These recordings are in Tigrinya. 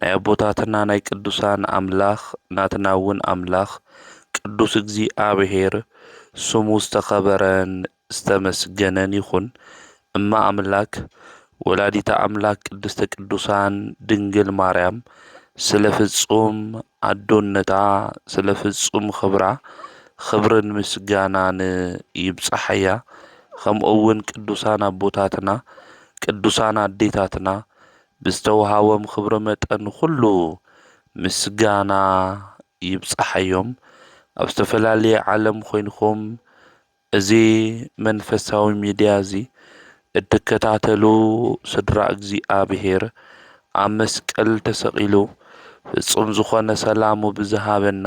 ናይ ኣቦታትና ናይ ቅዱሳን ኣምላኽ ናትና ውን ኣምላኽ ቅዱስ እግዚኣብሔር ስሙ ዝተኸበረን ዝተመስገነን ይኹን እመ ኣምላክ ወላዲተ ኣምላክ ቅድስተ ቅዱሳን ድንግል ማርያም ስለ ፍጹም ኣዶነታ ስለ ፍጹም ኽብራ ኽብርን ምስጋናን ይብጻሓያ ኸምኡ ውን ቅዱሳን ኣቦታትና ቅዱሳን ኣዴታትና ብዝተውሃቦም ክብሪ መጠን ኹሉ ምስጋና ይብጻሓዮም። ኣብ ዝተፈላለየ ዓለም ኮይንኩም እዚ መንፈሳዊ ሚድያ እዚ እትከታተሉ ስድራ እግዚኣብሔር ኣብ መስቀል ተሰቂሉ ፍጹም ዝኾነ ሰላሙ ብዝሃበና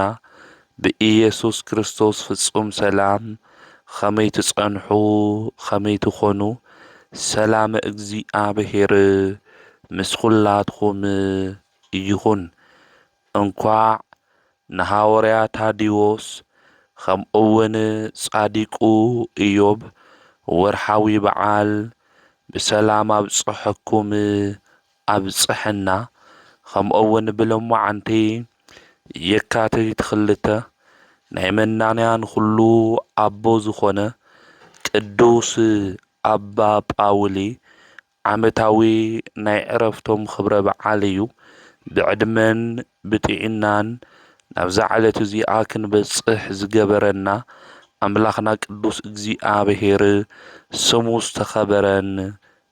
ብኢየሱስ ክርስቶስ ፍጹም ሰላም ኸመይ ትጸንሑ ኸመይ ትኾኑ ሰላመ እግዚኣብሔር ምስ ኹላትኹም ይኹን እንኳዕ ንሃወርያ ታዲዎስ ኸምኡውን ጻዲቁ እዮብ ወርሓዊ በዓል ብሰላም ኣብጸሐኩም ኣብፀሐና ከምኡውን ብሎማዓንቲ የካቲት ክልተ ናይ መናንያን ኹሉ ኣቦ ዝኾነ ቅዱስ ኣባ ጳውሊ ዓመታዊ ናይ ዕረፍቶም ኽብረ በዓል እዩ ብዕድመን ብጥዒናን ናብዛ ዕለት እዚኣ ክንበፅሕ ዝገበረና ኣምላኽና ቅዱስ እግዚኣብሔር ስሙ ዝተኸበረን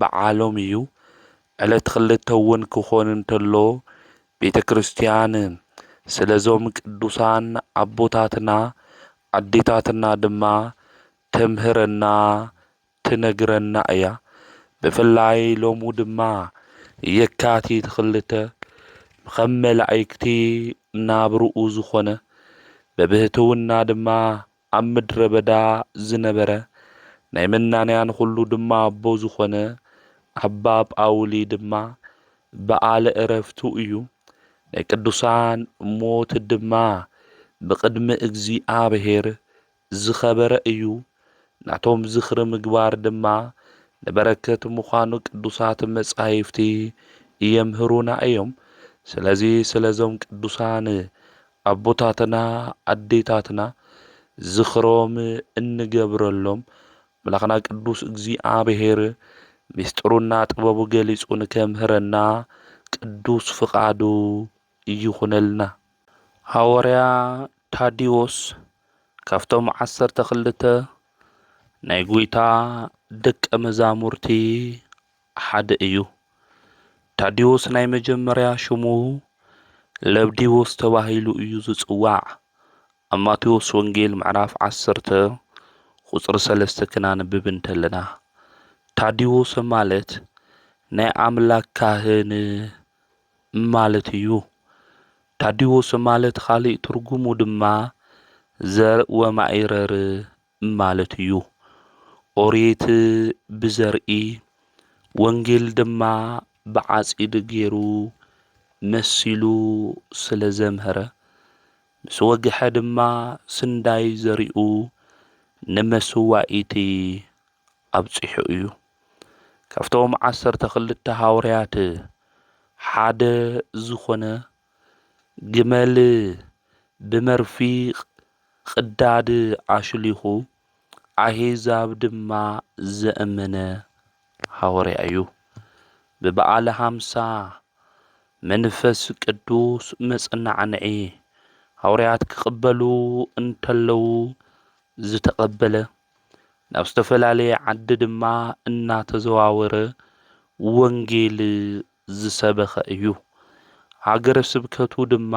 በዓሎም እዩ። ዕለት ክልተ እውን ክኾን እንተሎ ቤተ ክርስቲያን ስለዞም ቅዱሳን ኣቦታትና ኣዴታትና ድማ ተምህረና ትነግረና እያ። ብፍላይ ሎሙ ድማ የካቲት ክልተ ኸም መላኢክቲ ናብርኡ ዝኾነ በብህትውና ድማ ኣብ ምድረ በዳ ዝነበረ ናይ መናንያን ዅሉ ድማ ኣቦ ዝዀነ ኣባ ጳውሊ ድማ በዓለ ዕረፍቱ እዩ። ናይ ቅዱሳን ሞት ድማ ብቕድሚ እግዚኣብሔር ዝኸበረ እዩ። ናቶም ዝኽሪ ምግባር ድማ ንበረከት ምዃኑ ቅዱሳት መጻሕፍቲ የምህሩና እዮም። ስለዚ ስለዞም ቅዱሳን ኣቦታትና ኣዴታትና ዝኽሮም እንገብረሎም ኣምላኽና ቅዱስ እግዚኣብሔር ምስጢሩና ጥበቡ ገሊጹ ንከምህረና ቅዱስ ፍቃዱ ይኹነልና። ሃወርያ ታዲዎስ ካብቶም ዓሰርተ ክልተ ናይ ጎይታ ደቀ መዛሙርቲ ሓደ እዩ። ታዲዎስ ናይ መጀመርያ ሽሙ ለብዲዎስ ተባሂሉ እዩ ዝጽዋዕ። ኣብ ማቴዎስ ወንጌል ምዕራፍ ዓሰርተ ቁጽሪ ሰለስተ ክናንብብ እንተለና ታዲዎሰ ማለት ናይ ኣምላክ ካህን ማለት እዩ። ታዲዎሰ ማለት ኻሊእ ትርጉሙ ድማ ዘር ወማኢረር ማለት እዩ። ኦሪት ብዘርኢ፣ ወንጌል ድማ ብዓጺድ ገይሩ መሲሉ ስለ ዘምሀረ፣ ምስ ወግሐ ድማ ስንዳይ ዘሪኡ ንመስዋኢቲ ኣብጺሑ እዩ። ካብቶም ዓሰርተ ክልተ ሃውርያት ሓደ ዝኾነ ግመል ብመርፊቕ ቕዳድ ኣሽሊኹ ኣሂዛብ ድማ ዘእመነ ሃወርያ እዩ። ብበዓለ ሃምሳ መንፈስ ቅዱስ መጽናዕንዒ ሃወርያት ክቕበሉ እንተለዉ ዝተቐበለ ናብ ዝተፈላለየ ዓዲ ድማ እናተዘዋወረ ወንጌል ዝሰበኸ እዩ። ሃገረ ስብከቱ ድማ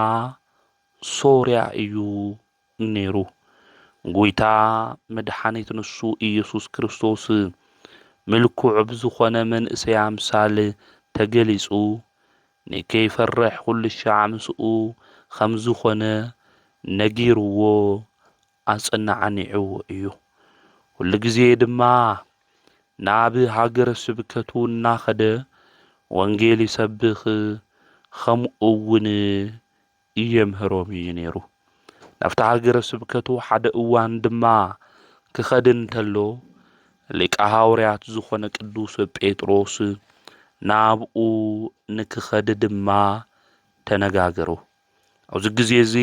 ሶርያ እዩ ነይሩ። ጐይታ መድሓኒት ንሱ ኢየሱስ ክርስቶስ ምልኩዕ ብዝኾነ መንእሰይ ኣምሳል ተገሊጹ ንከይፈርሕ ኩልሻዕ ምስኡ ኸም ዝኾነ ነጊርዎ ኣጸናዓኒዑ እዩ። ኩሉ ግዜ ድማ ናብ ሃገረ ስብከቱ እናኸደ ወንጌል ይሰብኽ ኸምኡውን የምህሮም እዩ ነይሩ። ናብቲ ሃገረ ስብከቱ ሓደ እዋን ድማ ክኸድ እንተሎ ሊቀ ሃዋርያት ዝኾነ ቅዱስ ጴጥሮስ ናብኡ ንክኸድ ድማ ተነጋገሩ። ኣብዚ ግዜ እዚ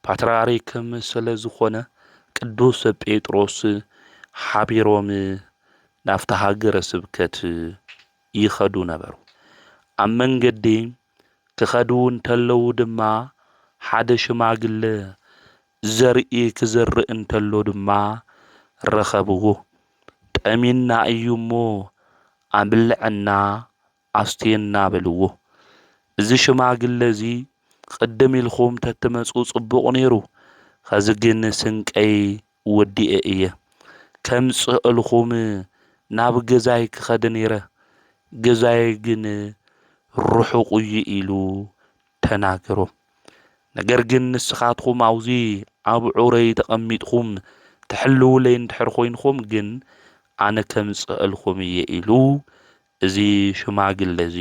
ፓትርያርክም ስለ ዝኾነ ቅዱስ ጴጥሮስ ሓቢሮም ናብታ ሃገረ ስብከት ይኸዱ ነበሩ። ኣብ መንገዲ ክኸዱ እንተለዉ ድማ ሓደ ሽማግለ ዘርኢ ክዘርእ እንተሎ ድማ ረኸብዎ። ጠሚና እዩ እሞ ኣብልዐና ኣስትየና በልዎ እዚ ሽማግለ እዚ ቕድም ኢልኩም ተትመጹ ጽቡቕ ኔሩ ኸዚ ግን ስንቀይ ወዲኤ እየ ከምጽእልኩም ናብ ገዛይ ክኸድ ኔረ ገዛይ ግን ርሑቕ እዩ ኢሉ ተናገሮም ነገር ግን ንስኻትኩም ኣውዚ ኣብ ዑረይ ተቐሚጥኩም ትሕልውለይ እንድሕር ኮይንኩም ግን ኣነ ከምጽእልኩም እየ ኢሉ እዚ ሽማግለ እዚ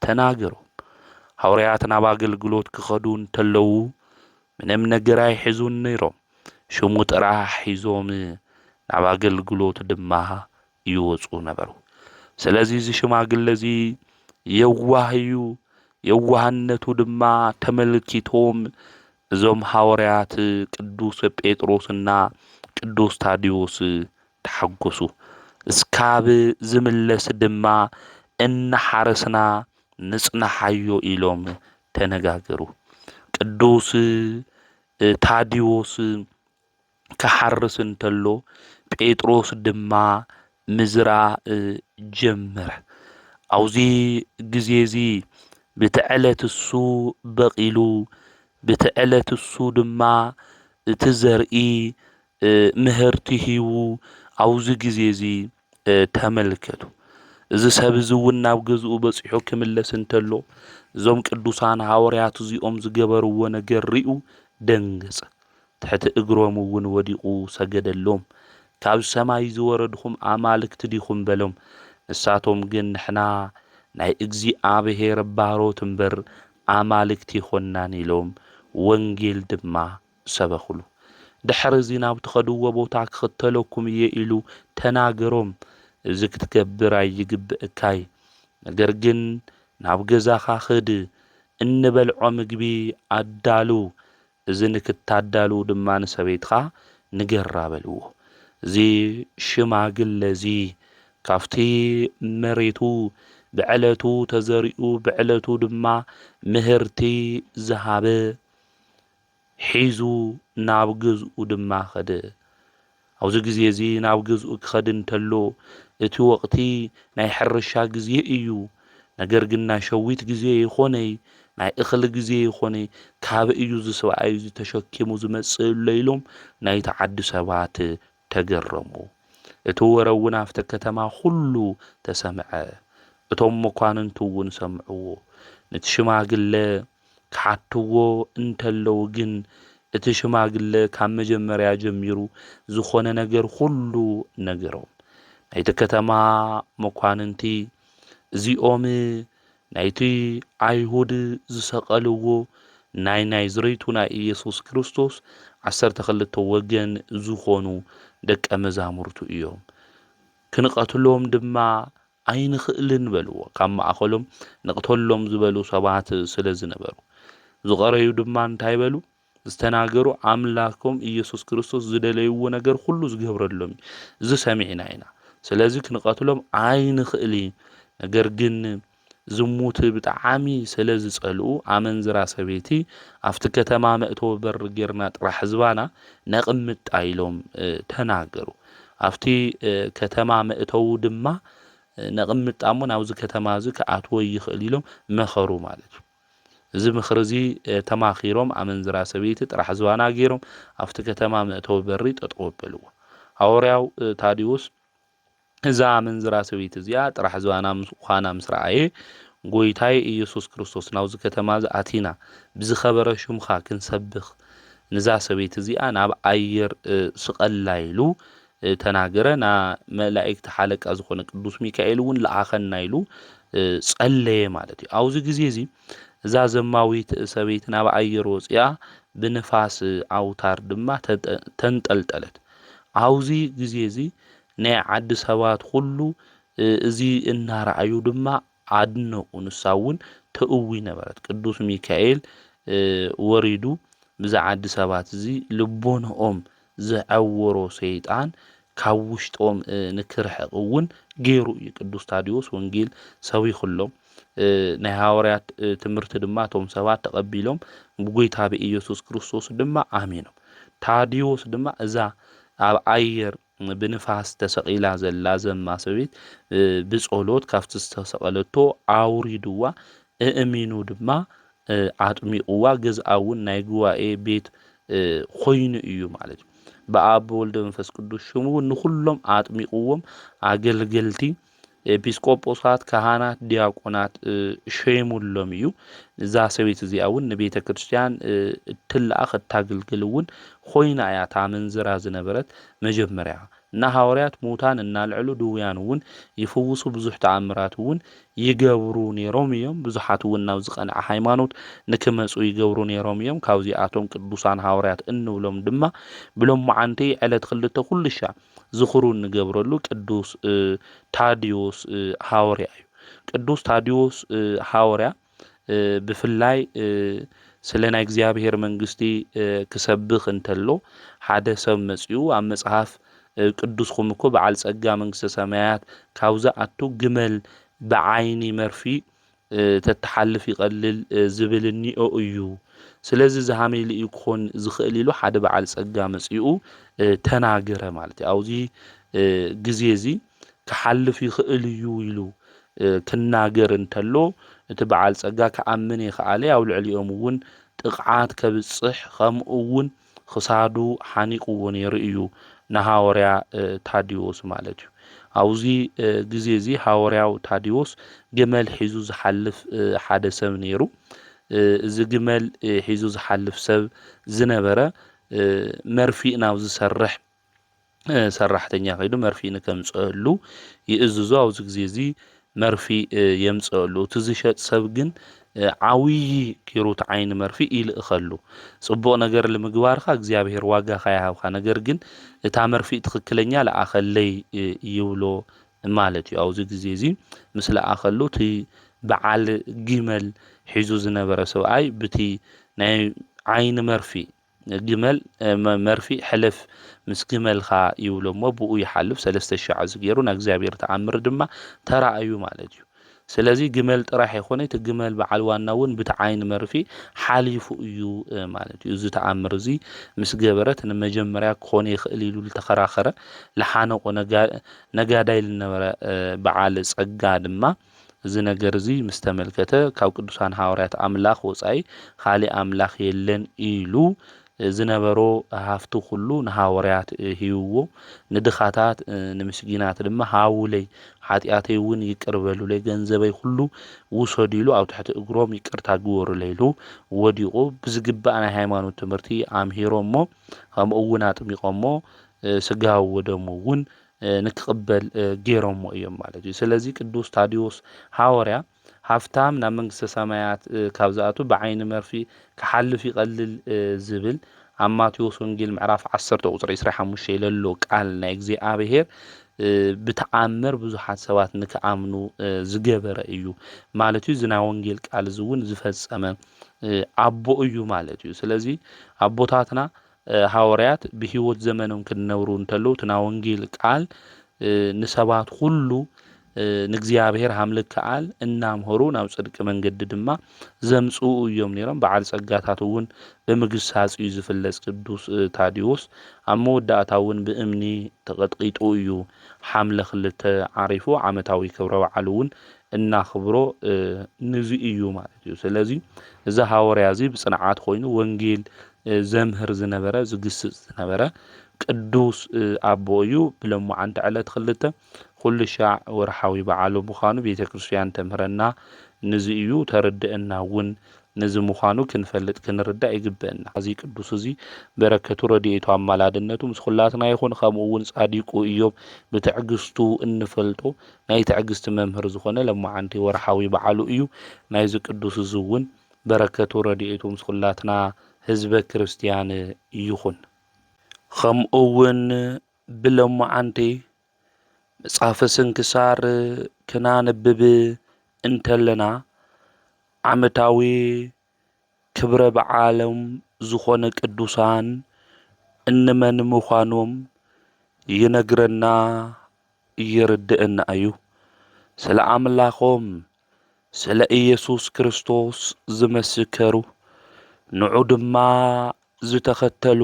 ተናገሮም። ሃውርያት ናብ ኣገልግሎት ክኸዱ እንተለዉ ምንም ነገር ኣይሕዙን ነይሮም። ሽሙ ጥራሕ ሒዞም ናብ ኣገልግሎት ድማ ይወጹ ነበሩ። ስለዚ እዚ ሽማግለ እዚ የዋህ እዩ። የዋህነቱ ድማ ተመልኪቶም እዞም ሃውርያት ቅዱስ ጴጥሮስና ቅዱስ ታዲዎስ ተሓጎሱ እስካብ ዝምለስ ድማ እናሓረስና ንፅናሓዮ ኢሎም ተነጋገሩ። ቅዱስ ታዲዎስ ክሓርስ እንተሎ ጴጥሮስ ድማ ምዝራእ ጀመረ። ኣብዚ ግዜ እዚ ብቲ ዕለት እሱ በቒሉ ብቲ ዕለት እሱ ድማ እቲ ዘርኢ ምህርቲ ሂቡ ኣብዚ ግዜ እዚ ተመልከቱ። እዚ ሰብ እዚ እውን ናብ ገዝኡ በጺሑ ክምለስ እንተሎ እዞም ቅዱሳን ሃወርያት እዚኦም ዝገበርዎ ነገር ርኡ ደንገጸ። ትሕቲ እግሮም እውን ወዲቑ ሰገደሎም። ካብ ሰማይ ዝወረድኹም ኣማልክት ዲኹም በሎም። ንሳቶም ግን ንሕና ናይ እግዚኣብሔር ባሮት እምበር ኣማልክት ኣይኮናን ኢሎም ወንጌል ድማ ሰበኹሉ። ድሕሪ እዚ ናብ ትኸድዎ ቦታ ክኽተለኩም እየ ኢሉ ተናገሮም። እዚ ክትገብር ኣይግብእካይ ነገር ግን ናብ ገዛኻ ኽድ እንበልዖ ምግቢ ኣዳሉ እዚ ንክታዳሉ ድማ ንሰበይትኻ ንገራ በልዎ። እዚ ሽማግለ እዚ ካብቲ መሬቱ ብዕለቱ ተዘሪኡ ብዕለቱ ድማ ምህርቲ ዝሃበ ሒዙ ናብ ገዝኡ ድማ ከደ። ኣብዚ ግዜ እዚ ናብ ገዝኡ ክኸድ እንተሎ እቲ ወቕቲ ናይ ሕርሻ ግዜ እዩ። ነገር ግን ናይ ሸዊት ግዜ ይኾነይ ናይ እኽሊ ግዜ ይኾነይ ካበይ እዩ እዚ ሰብኣይ እዚ ተሸኪሙ ዝመጽእ እሎ ኢሎም ናይቲ ዓዲ ሰባት ተገረሙ። እቲ ወረ እውን ኣብቲ ከተማ ዅሉ ተሰምዐ፣ እቶም መኳንንቱ እውን ሰምዕዎ። ንቲ ሽማግለ ኪሓትዎ እንተለዉ ግን፣ እቲ ሽማግለ ካብ መጀመርያ ጀሚሩ ዝዀነ ነገር ዅሉ ነገሮም። ናይቲ ከተማ መኳንንቲ፣ እዚኦም ናይቲ ኣይሁድ ዝሰቀልዎ ናይ ናይዝሬቱ ናይ ኢየሱስ ክርስቶስ ዓሰርተ ክልተ ወገን ዝኾኑ ደቀ መዛሙርቱ እዮም። ክንቐትሎም ድማ ኣይንኽእልን በልዎ። ካብ ማእኸሎም ንቕተሎም ዝበሉ ሰባት ስለ ዝነበሩ። ዝቐረዩ ድማ እንታይ በሉ? ዝተናገሩ ኣምላኮም እየሱስ ክርስቶስ ዝደለይዎ ነገር ኩሉ ዝገብረሎም እዩ እዚ ሰሚዕና ኢና ስለዚ ክንቐትሎም ኣይንኽእል ነገር ግን ዝሙት ብጣዕሚ ስለ ዝጸልኡ ኣመንዝራ ሰበይቲ ኣብቲ ከተማ መእተዊ በሪ ጌርና ጥራሕ ህዝባና ነቕምጣ ኢሎም ተናገሩ። ኣብቲ ከተማ መእተዊ ድማ ነቕምጣ እሞ ናብዚ ከተማ እዚ ክኣትዎ ይኽእል ኢሎም መኸሩ ማለት እዩ። እዚ ምኽሪ እዚ ተማኺሮም ኣመንዝራ ሰበይቲ ጥራሕ ዝባና ገይሮም ኣብቲ ከተማ መእተዊ በሪ ጠጠው ኣበልዎ። ሃወርያው ታዴዎስ እዛ ኣመንዝራ ሰበይቲ እዚኣ ጥራሕ ዝባና ምዃና ምስ ረኣየ ጎይታይ ኢየሱስ ክርስቶስ ናብዚ ከተማ እዚ ኣቲና ብዝኸበረ ሹምኻ ክንሰብኽ ንዛ ሰበይቲ እዚኣ ናብ ኣየር ስቐላ ኢሉ ተናገረና፣ መላኢክቲ ሓለቃ ዝኾነ ቅዱስ ሚካኤል እውን ለኣኸና ኢሉ ጸለየ ማለት እዩ። ኣብዚ ግዜ እዚ እዛ ዘማዊት ሰበይቲ ናብ ኣየር ወጺኣ ብንፋስ ኣውታር ድማ ተንጠልጠለት። ኣብዚ ግዜ እዚ ናይ ዓዲ ሰባት ኩሉ እዚ እናረኣዩ ድማ ኣድነቁ ንሳ እውን ተእዊ ነበረት ቅዱስ ሚካኤል ወሪዱ ብዛ ዓዲ ሰባት እዚ ልቦነኦም ዘዐወሮ ሰይጣን ካብ ውሽጦም ንክርሕቅ እውን ገይሩ እዩ ቅዱስ ታዲዎስ ወንጌል ሰቢኹሎም ናይ ሃዋርያት ትምህርቲ ድማ እቶም ሰባት ተቐቢሎም ብጎይታ ብኢየሱስ ክርስቶስ ድማ ኣሚኖም ታዲዎስ ድማ እዛ ኣብ ኣየር ብንፋስ ተሰቒላ ዘላ ዘማ ሰበይት ብጸሎት ካብቲ ዝተሰቐለቶ ኣውሪድዋ እእሚኑ ድማ ኣጥሚቕዋ ገዝኣ እውን ናይ ጉባኤ ቤት ኮይኑ እዩ ማለት እዩ። ብኣብ ብወልድ መንፈስ ቅዱስ ሽም እውን ንኹሎም ኣጥሚቕዎም ኣገልገልቲ ኤጲስቆጶሳት፣ ካህናት፣ ዲያቆናት ሸይሙሎም እዩ። እዛ ሰበይቲ እዚኣ እውን ንቤተ ክርስቲያን እትለኣኽ እታግልግል እውን ኮይና እያ እታ ኣመንዝራ ዝነበረት መጀመርያ እና ሃዋርያት ሙታን እናልዕሉ ድውያን እውን ይፍውሱ ብዙሕ ተኣምራት እውን ይገብሩ ነይሮም እዮም። ብዙሓት እውን ናብ ዝቀንዐ ሃይማኖት ንክመፁ ይገብሩ ነይሮም እዮም። ካብዚኣቶም ቅዱሳን ሃዋርያት እንብሎም ድማ ብሎማዓንቲ ዕለት ክልተ ኩልሻ ዝኽሩ እንገብረሉ ቅዱስ ታድዮስ ሃወርያ እዩ። ቅዱስ ታድዮስ ሃወርያ ብፍላይ ስለ ናይ እግዚኣብሔር መንግስቲ ክሰብኽ እንተሎ ሓደ ሰብ መጺኡ ኣብ መጽሐፍ ቅዱስኹም እኮ በዓል ጸጋ መንግስተ ሰማያት ካብዚ ኣቱ ግመል ብዓይኒ መርፊ ተተሓልፍ ይቐልል ዝብል እኒኦ እዩ። ስለዚ እዚ ሃመይ ኢሉ እዩ ክኾን ዝኽእል ኢሉ ሓደ በዓል ጸጋ መጺኡ ተናገረ ማለት እዩ። ኣብዚ ግዜ እዚ ክሓልፍ ይኽእል እዩ ኢሉ ክናገር እንተሎ እቲ በዓል ጸጋ ክኣምን የኸኣለ፣ ኣብ ልዕሊኦም እውን ጥቕዓት ከብጽሕ ከምኡ እውን ኽሳዱ ሓኒቕዎ ነይሩ እዩ፣ ንሃወርያ ታዴዎስ ማለት እዩ። ኣብዚ ግዜ እዚ ሃወርያው ታዴዎስ ግመል ሒዙ ዝሓልፍ ሓደ ሰብ ነይሩ። እዚ ግመል ሒዙ ዝሓልፍ ሰብ ዝነበረ መርፊእ ናብ ዝሰርሕ ሰራሕተኛ ከይዱ መርፍኢ ንከምፀእሉ ይእዝዞ። ኣብዚ ግዜ እዚ መርፍኢ የምፀእሉ። እቲ ዝሸጥ ሰብ ግን ዓብዪ ጌሩ እቲ ዓይኒ መርፍእ ይልእኸሉ። ፅቡቕ ነገር ንምግባርካ እግዚኣብሔር ዋጋኻ ይሃብካ፣ ነገር ግን እታ መርፍእ ትኽክለኛ ለኣኸለይ ይብሎ ማለት እዩ። ኣብዚ ግዜ እዚ ምስ ለኣኸሉ እቲ በዓል ጊመል ሒዙ ዝነበረ ሰብኣይ ብቲ ናይ ዓይኒ መርፍእ ግመል መርፍእ ሕለፍ ምስ ግመልካ ይብሎ እሞ ብኡ ይሓልፍ ሰለስተ ሻዕዚ ገይሩ ናይ እግዚኣብሔር ተኣምር ድማ ተራእዩ ማለት እዩ ስለዚ ግመል ጥራሕ የኮነ እቲ ግመል በዓል ዋና እውን ብቲ ዓይኒ መርፊ ሓሊፉ እዩ ማለት እዩ እዚ ተኣምር እዚ ምስ ገበረት ንመጀመርያ ክኾነ ይኽእል ኢሉ ዝተኸራኸረ ልሓነቆ ነጋዳይ ልነበረ በዓል ጸጋ ድማ እዚ ነገር እዚ ምስ ተመልከተ ካብ ቅዱሳን ሃዋርያት ኣምላኽ ወጻኢ ኻልእ ኣምላኽ የለን ኢሉ ዝነበሮ ሃፍቱ ኹሉ ንሃዋርያት ሂብዎ ንድኻታት ንምስጊናት ድማ ሃቡለይ ሓጢኣተይ እውን ይቅር በሉለይ ገንዘበይ ኹሉ ውሰዱ ኢሉ ኣብ ትሕቲ እግሮም ይቅርታ ግበሩለይ ኢሉ ወዲቑ ብዝግባእ ናይ ሃይማኖት ትምህርቲ ኣምሂሮሞ ከምኡ እውን ኣጥሚቖሞ ስጋው ወደሙ እውን ንኪቕበል ገይሮምዎ እዮም ማለት እዩ። ስለዚ ቅዱስ ታዴዎስ ሓወርያ ሃፍታም ናብ መንግስተ ሰማያት ካብ ዝኣቱ ብዓይኒ መርፍእ ኪሓልፍ ይቐልል ዝብል ኣብ ማቴዎስ ወንጌል ምዕራፍ ዓሰርተ ቁጽሪ ዕስራ ሓሙሽተ ለሎ ቃል ናይ እግዚኣብሔር ብተኣምር ብዙሓት ሰባት ንክኣምኑ ዝገበረ እዩ ማለት እዩ። እዚ ናይ ወንጌል ቃል እዚ እውን ዝፈጸመ ኣቦ እዩ ማለት እዩ። ስለዚ ኣቦታትና ሃወርያት ብህይወት ዘመኖም ክነብሩ እንተለዉ እቲ ናይ ወንጌል ቃል ንሰባት ኹሉ ንእግዚኣብሔር ሃምልክ ከኣል እናምሀሩ ናብ ጽድቂ መንገዲ ድማ ዘምጽኡ እዮም ነይሮም። በዓል ጸጋታት እውን ብምግሳጽ እዩ ዝፍለጽ። ቅዱስ ታዲዎስ ኣብ መወዳእታ እውን ብእምኒ ተቐጥቂጡ እዩ ሓምለ ክልተ ዓሪፉ። ዓመታዊ ክብረ በዓሉ እውን እናኽብሮ ንዙ እዩ ማለት እዩ። ስለዚ እዚ ሃወርያ እዚ ብጽንዓት ኮይኑ ወንጌል ዘምህር ዝነበረ ዝግስጽ ዝነበረ ቅዱስ ኣቦ እዩ። ብለማዓንቲ ዕለት ክልተ ኩሉ ሻዕ ወርሓዊ በዓሉ ምዃኑ ቤተ ክርስቲያን ተምህረና። ንዚ እዩ ተርድእና እውን ንዚ ምዃኑ ክንፈልጥ ክንርዳእ ይግበእና። እዚ ቅዱስ እዚ በረከቱ ረድኤቱ ኣማላድነቱ ምስ ኩላትና ይኹን። ከምኡ እውን ጻዲቁ እዮብ ብትዕግስቱ እንፈልጦ ናይ ትዕግስቲ መምህር ዝኾነ ለማዓንቲ ወርሓዊ በዓሉ እዩ ናይዚ ቅዱስ እዚ እውን በረከቱ ረዲኤቱ ምስ ኹላትና ህዝበ ክርስትያን ይኹን። ኸምኡ እውን ብለማዓንቲ መፅሓፈ ስንክሳር ክናንብብ እንተለና ዓመታዊ ክብረ በዓሎም ዝኾነ ቅዱሳን እንመን ምዃኖም ይነግረና የርድእና እዩ። ስለ ኣምላኾም ስለ ኢየሱስ ክርስቶስ ዝመሰከሩ ንዑ ድማ ዝተኸተሉ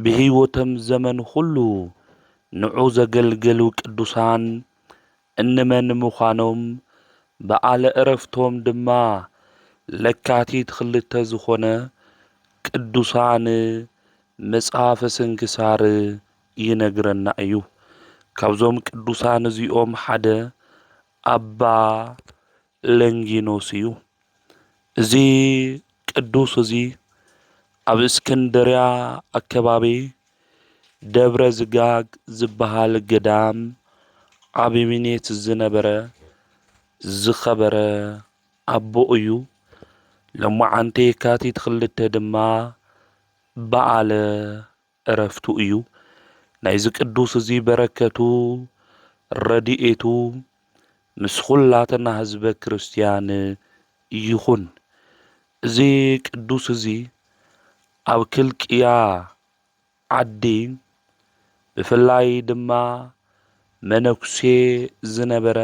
ብሕይወቶም ዘመን ኹሉ ንዑ ዘገልገሉ ቅዱሳን እንመን ምዃኖም፣ በዓለ ዕረፍቶም ድማ ለካቲት ክልተ ዝኾነ ቅዱሳን መጽሐፈ ስንክሳር ይነግረና እዩ። ካብዞም ቅዱሳን እዚኦም ሓደ ኣባ ለንጊኖስ እዩ። እዚ ቅዱስ እዚ ኣብ እስክንድርያ ኣከባቢ ደብረ ዝጋግ ዝበሃል ገዳም ዓቢሚኔት ዝነበረ ዝኸበረ ኣቦ እዩ። ሎማዓንቲ የካቲት ክልተ ድማ በዓለ ዕረፍቱ እዩ። ናይዚ ቅዱስ እዚ በረከቱ ረድኤቱ ምስ ኹላትና ህዝበ ክርስቲያን ይኹን። እዚ ቅዱስ እዚ ኣብ ክልቅያ ዓዲ ብፍላይ ድማ መነኩሴ ዝነበረ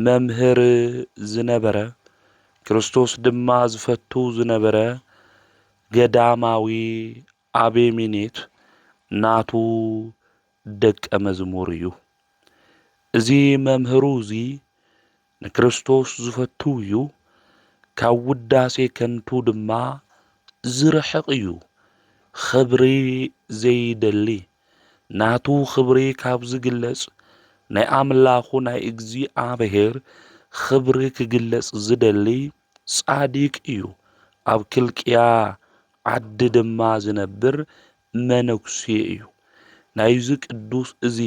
መምህር ዝነበረ፣ ክርስቶስ ድማ ዝፈቱ ዝነበረ ገዳማዊ ኣቤሜኔት ናቱ ደቀ መዝሙር እዩ። እዚ መምህሩ እዚ ንክርስቶስ ዝፈቱ እዩ፣ ካብ ውዳሴ ከንቱ ድማ ዝርሕቕ እዩ፣ ኽብሪ ዘይደሊ፣ ናቱ ኽብሪ ካብ ዚግለጽ፣ ናይ ኣምላኹ ናይ እግዚኣብሔር ኽብሪ ኪግለጽ ዚደሊ ጻዲቅ እዩ። ኣብ ኪልቅያ ዓዲ ድማ ዚነብር መነኩሴ እዩ። ናይዚ ቅዱስ እዚ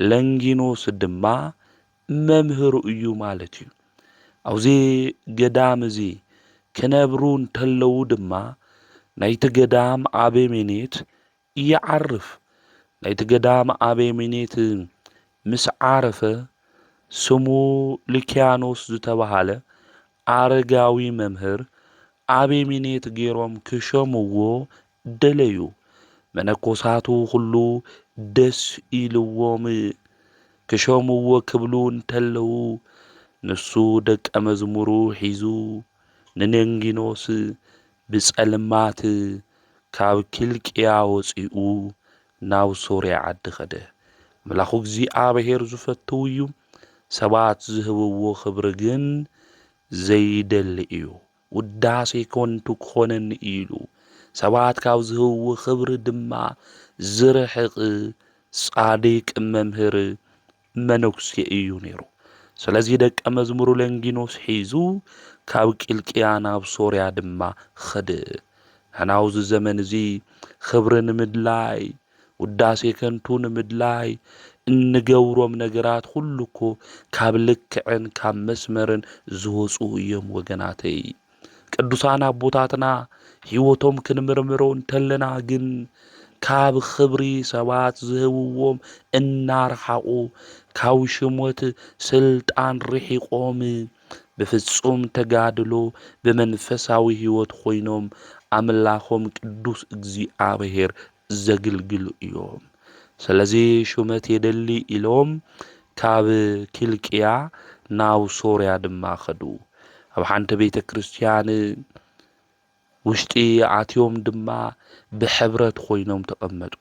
ለንጊኖስ ድማ መምህሩ እዩ ማለት እዩ። ኣብዚ ገዳም እዚ ክነብሩ እንተለዉ ድማ ናይቲ ገዳም ኣበሜኔት ይዓርፍ። ናይቲ ገዳም ኣበምኔት ምስ ዓረፈ፣ ስሙ ልክያኖስ ዝተባህለ ኣረጋዊ መምህር ኣበምኔት ገይሮም ክሸምዎ ደለዩ። መነኮሳቱ ኹሉ ደስ ኢልዎም ክሸምዎ ክብሉ እንተለዉ፣ ንሱ ደቀ መዝሙሩ ሒዙ ንሎንጊኖስ ብጸልማት ካብ ኪልቅያ ወጺኡ ናብ ሶርያ ዓዲ ከደ። ምላኹ እግዚኣብሔር ዝፈትው እዩ፣ ሰባት ዝህብዎ ክብሪ ግን ዘይደሊ እዩ። ውዳሴ ከንቱ ክኾነኒ ኢሉ፣ ሰባት ካብ ዝህብዎ ክብሪ ድማ ዝርሕቅ ጻድቅ መምህር መነኩሴ እዩ ነይሩ። ስለዚ ደቀ መዝሙሩ ለንጊኖስ ሒዙ ካብ ቂልቅያ ናብ ሶርያ ድማ ኸደ። ንሕና ኣብዚ ዘመን እዚ ኽብሪ ንምድላይ፣ ውዳሴ ከንቱ ንምድላይ እንገብሮም ነገራት ኹሉ እኮ ካብ ልክዕን ካብ መስመርን ዝወፁ እዮም ወገናተይ። ቅዱሳን ኣቦታትና ሕይወቶም ክንምርምሮ እንተለና ግን ካብ ኽብሪ ሰባት ዝህብዎም እናረሓቑ ካብ ሽሞት ስልጣን ርሒቖም ብፍጹም ተጋድሎ ብመንፈሳዊ ሕይወት ኾይኖም ኣምላኾም ቅዱስ እግዚኣብሔር ዘግልግሉ እዮም። ስለዚ ሹመት የደሊ ኢሎም ካብ ኪልቅያ ናብ ሶርያ ድማ ከዱ። ኣብ ሓንቲ ቤተ ክርስቲያን ውሽጢ ኣትዮም ድማ ብሕብረት ኮይኖም ተቐመጡ።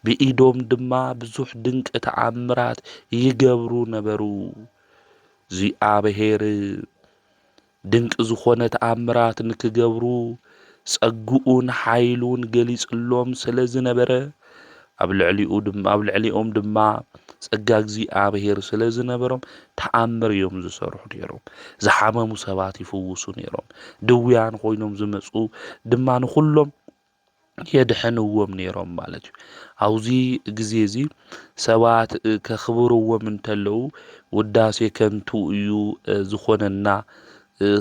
ብኢዶም ድማ ብዙሕ ድንቂ ተኣምራት ይገብሩ ነበሩ። እግዚኣብሔር ድንቂ ዝኾነ ተኣምራት ንክገብሩ ጸግኡን ሓይሉን ገሊጽሎም ስለ ዝነበረ፣ ኣብ ልዕሊኡ ድም ኣብ ልዕሊኦም ድማ ጸጋ እግዚኣብሔር ስለ ዝነበሮም ተኣምር እዮም ዝሰርሑ ነይሮም። ዝሓመሙ ሰባት ይፍውሱ ነይሮም፣ ድውያን ኮይኖም ዝመጹ ድማ ንኹሎም የድሕንዎም ነይሮም ማለት እዩ። ኣብዚ ግዜ እዚ ሰባት ከኽብርዎም እንተለዉ ውዳሴ ከንቱ እዩ ዝኾነና፣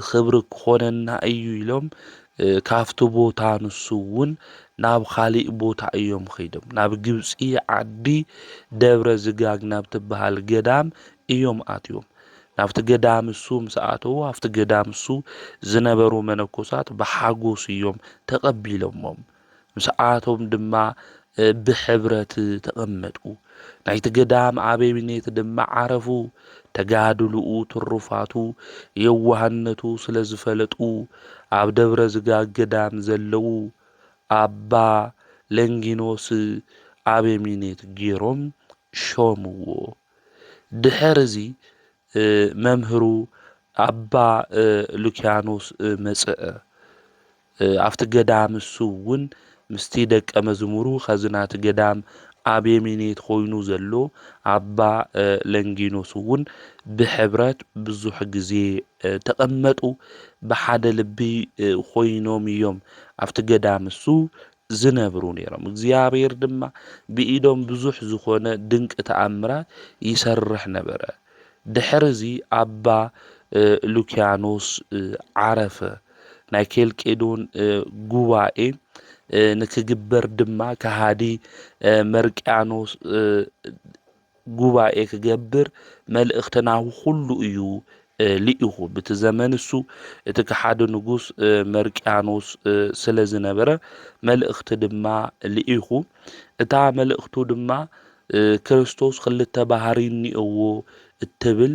ኽብሪ ክኾነና እዩ ኢሎም ካብቲ ቦታ ንሱ እውን ናብ ኻሊእ ቦታ እዮም ኸይዶም። ናብ ግብፂ ዓዲ ደብረ ዝጋግ ናብ ትበሃል ገዳም እዮም ኣትዮም። ናብቲ ገዳም እሱ ምስ ኣተዉ ኣብቲ ገዳም እሱ ዝነበሩ መነኮሳት ብሓጎስ እዮም ተቐቢሎሞም። ምስ ኣቶም ድማ ብሕብረት ተቐመጡ። ናይቲ ገዳም ኣበብኔት ድማ ዓረፉ። ተጋድልኡ፣ ትሩፋቱ፣ የዋህነቱ ስለ ዝፈለጡ ኣብ ደብረ ዝጋግ ገዳም ዘለዉ ኣባ ለንጊኖስ ኣበምኔት ገይሮም ሾምዎ። ድኅርዚ መምህሩ ኣባ ሉኪያኖስ መጽእ። ኣብቲ ገዳም እሱ እውን ምስቲ ደቀ መዝሙሩ ኸዝናቲ ገዳም ኣቤሜኔት ኾይኑ ዘሎ ኣባ ለንጊኖስ እውን ብኅብረት ብዙኅ ጊዜ ተቐመጡ። ብሓደ ልቢ ኾይኖም እዮም ኣብቲ ገዳም እሱ ዝነብሩ ነይሮም። እግዚኣብሔር ድማ ብኢዶም ብዙሕ ዝኾነ ድንቂ ተኣምራት ይሰርሕ ነበረ። ድሕርዚ ኣባ ሉኪያኖስ ዓረፈ። ናይ ኬልቄዶን ጉባኤ ንክግበር ድማ ከሃዲ መርቅያኖስ ጉባኤ ክገብር መልእኽቲ ናብ ዅሉ እዩ ልኢኹ። ብቲ ዘመን እሱ እቲ ከሓዲ ንጉስ መርቅያኖስ ስለ ዝነበረ መልእኽቲ ድማ ልኢኹ። እታ መልእኽቱ ድማ ክርስቶስ ክልተ ባህርይ እኒኦዎ እትብል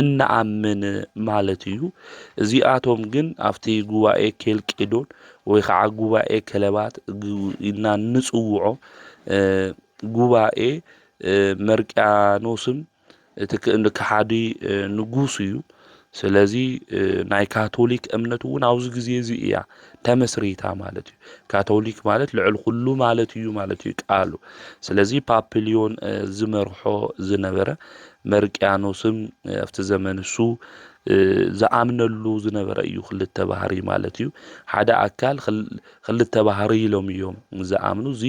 እንኣምን ማለት እዩ። እዚኣቶም ግን ኣብቲ ጉባኤ ኬልቄዶን ወይ ከዓ ጉባኤ ከለባት ኢልና እንፅውዖ ጉባኤ መርቅያኖስም እቲ ከሓዲ ንጉስ እዩ። ስለዚ ናይ ካቶሊክ እምነት እውን ኣብዚ ግዜ እዚ እያ ተመስሪታ ማለት እዩ። ካቶሊክ ማለት ልዕል ኩሉ ማለት እዩ ማለት እዩ ቃሉ። ስለዚ ፓፕሊዮን ዝመርሖ ዝነበረ መርቅያኖስም ኣብቲ ዘመን እሱ ዝኣምነሉ ዝነበረ እዩ ክልተ ባህሪ ማለት እዩ ሓደ ኣካል ክልተ ባህሪ ኢሎም እዮም ዝኣምኑ እዚ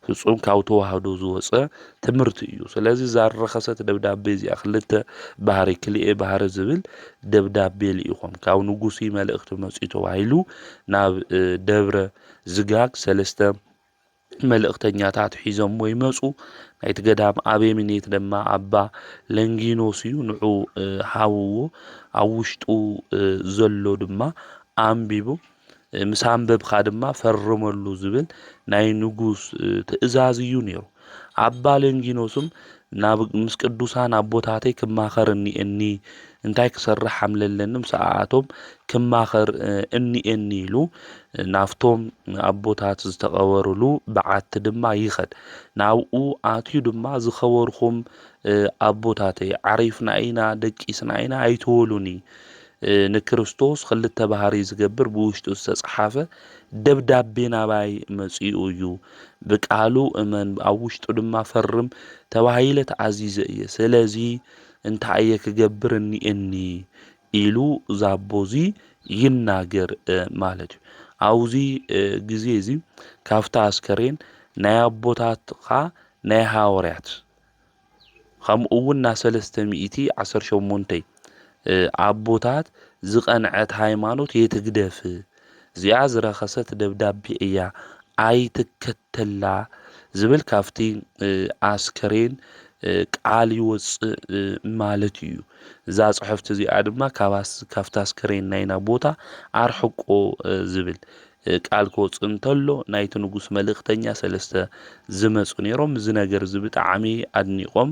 ፍጹም ካብ ተዋህዶ ዝወፀ ትምህርቲ እዩ ስለዚ ዛረኸሰት ደብዳቤ እዚኣ ክልተ ባህሪ ክልኤ ባህሪ ዝብል ደብዳቤ ልኢኾም ካብ ንጉሲ መልእኽቲ መፅኡ ተባሂሉ ናብ ደብረ ዝጋግ ሰለስተ መልእኽተኛታት ሒዞምዎ ይመጹ። ናይቲ ገዳም ኣበምኔት ድማ ኣባ ለንጊኖስ እዩ። ንዑ ሃብዎ፣ ኣብ ውሽጡ ዘሎ ድማ ኣንቢቡ፣ ምስ ኣንበብካ ድማ ፈርመሉ ዝብል ናይ ንጉስ ትእዛዝ እዩ ነይሩ። ኣባ ለንጊኖስም ናብ ምስ ቅዱሳን ኣቦታተይ ክማኸር እኒኤኒ፣ እንታይ ክሰርሕ ሃምለለኒ ምስኣኣቶም ክማኸር እኒኤኒ ኢሉ ናብቶም ኣቦታት ዝተቐበሩሉ በዓቲ ድማ ይኸድ። ናብኡ ኣትዩ ድማ ዝኸበርኹም ኣቦታተይ ዓሪፍና ኢና ደቂስና ኢና ኣይትበሉኒ ንክርስቶስ ኽልተ ባህርይ ዝገብር ብውሽጡ ዝተጸሓፈ ደብዳቤ ናባይ መጺኡ እዩ። ብቃሉ እመን ኣብ ውሽጡ ድማ ፈርም ተባሂለ ተኣዚዘ እየ። ስለዚ እንታይ እየ ክገብር እኒኤኒ ኢሉ ዛቦ እዚ ይናገር ማለት እዩ። ኣብዚ ግዜ እዚ ካብታ ኣስከሬን ናይ ኣቦታትካ ናይ ሃወርያት ኸምኡ ውን ናብ ሰለስተ ሚእቲ ዓሰርተ ሸሞንተ ኣቦታት ዝቐንዐት ሃይማኖት የትግደፍ እዚኣ ዝረኸሰት ደብዳቤ እያ ኣይትከተላ ዝብል ካብቲ ኣስከሬን ቃል ይወጽእ ማለት እዩ። እዛ ጽሕፍቲ እዚኣ ድማ ካብቲ ኣስከሬን ናይና ቦታ ኣርሕቆ ዝብል ቃል ክወጽእ እንተሎ ናይቲ ንጉስ መልእኽተኛ ሰለስተ ዝመጹ ነይሮም እዚ ነገር እዚ ብጣዕሚ ኣድኒቆም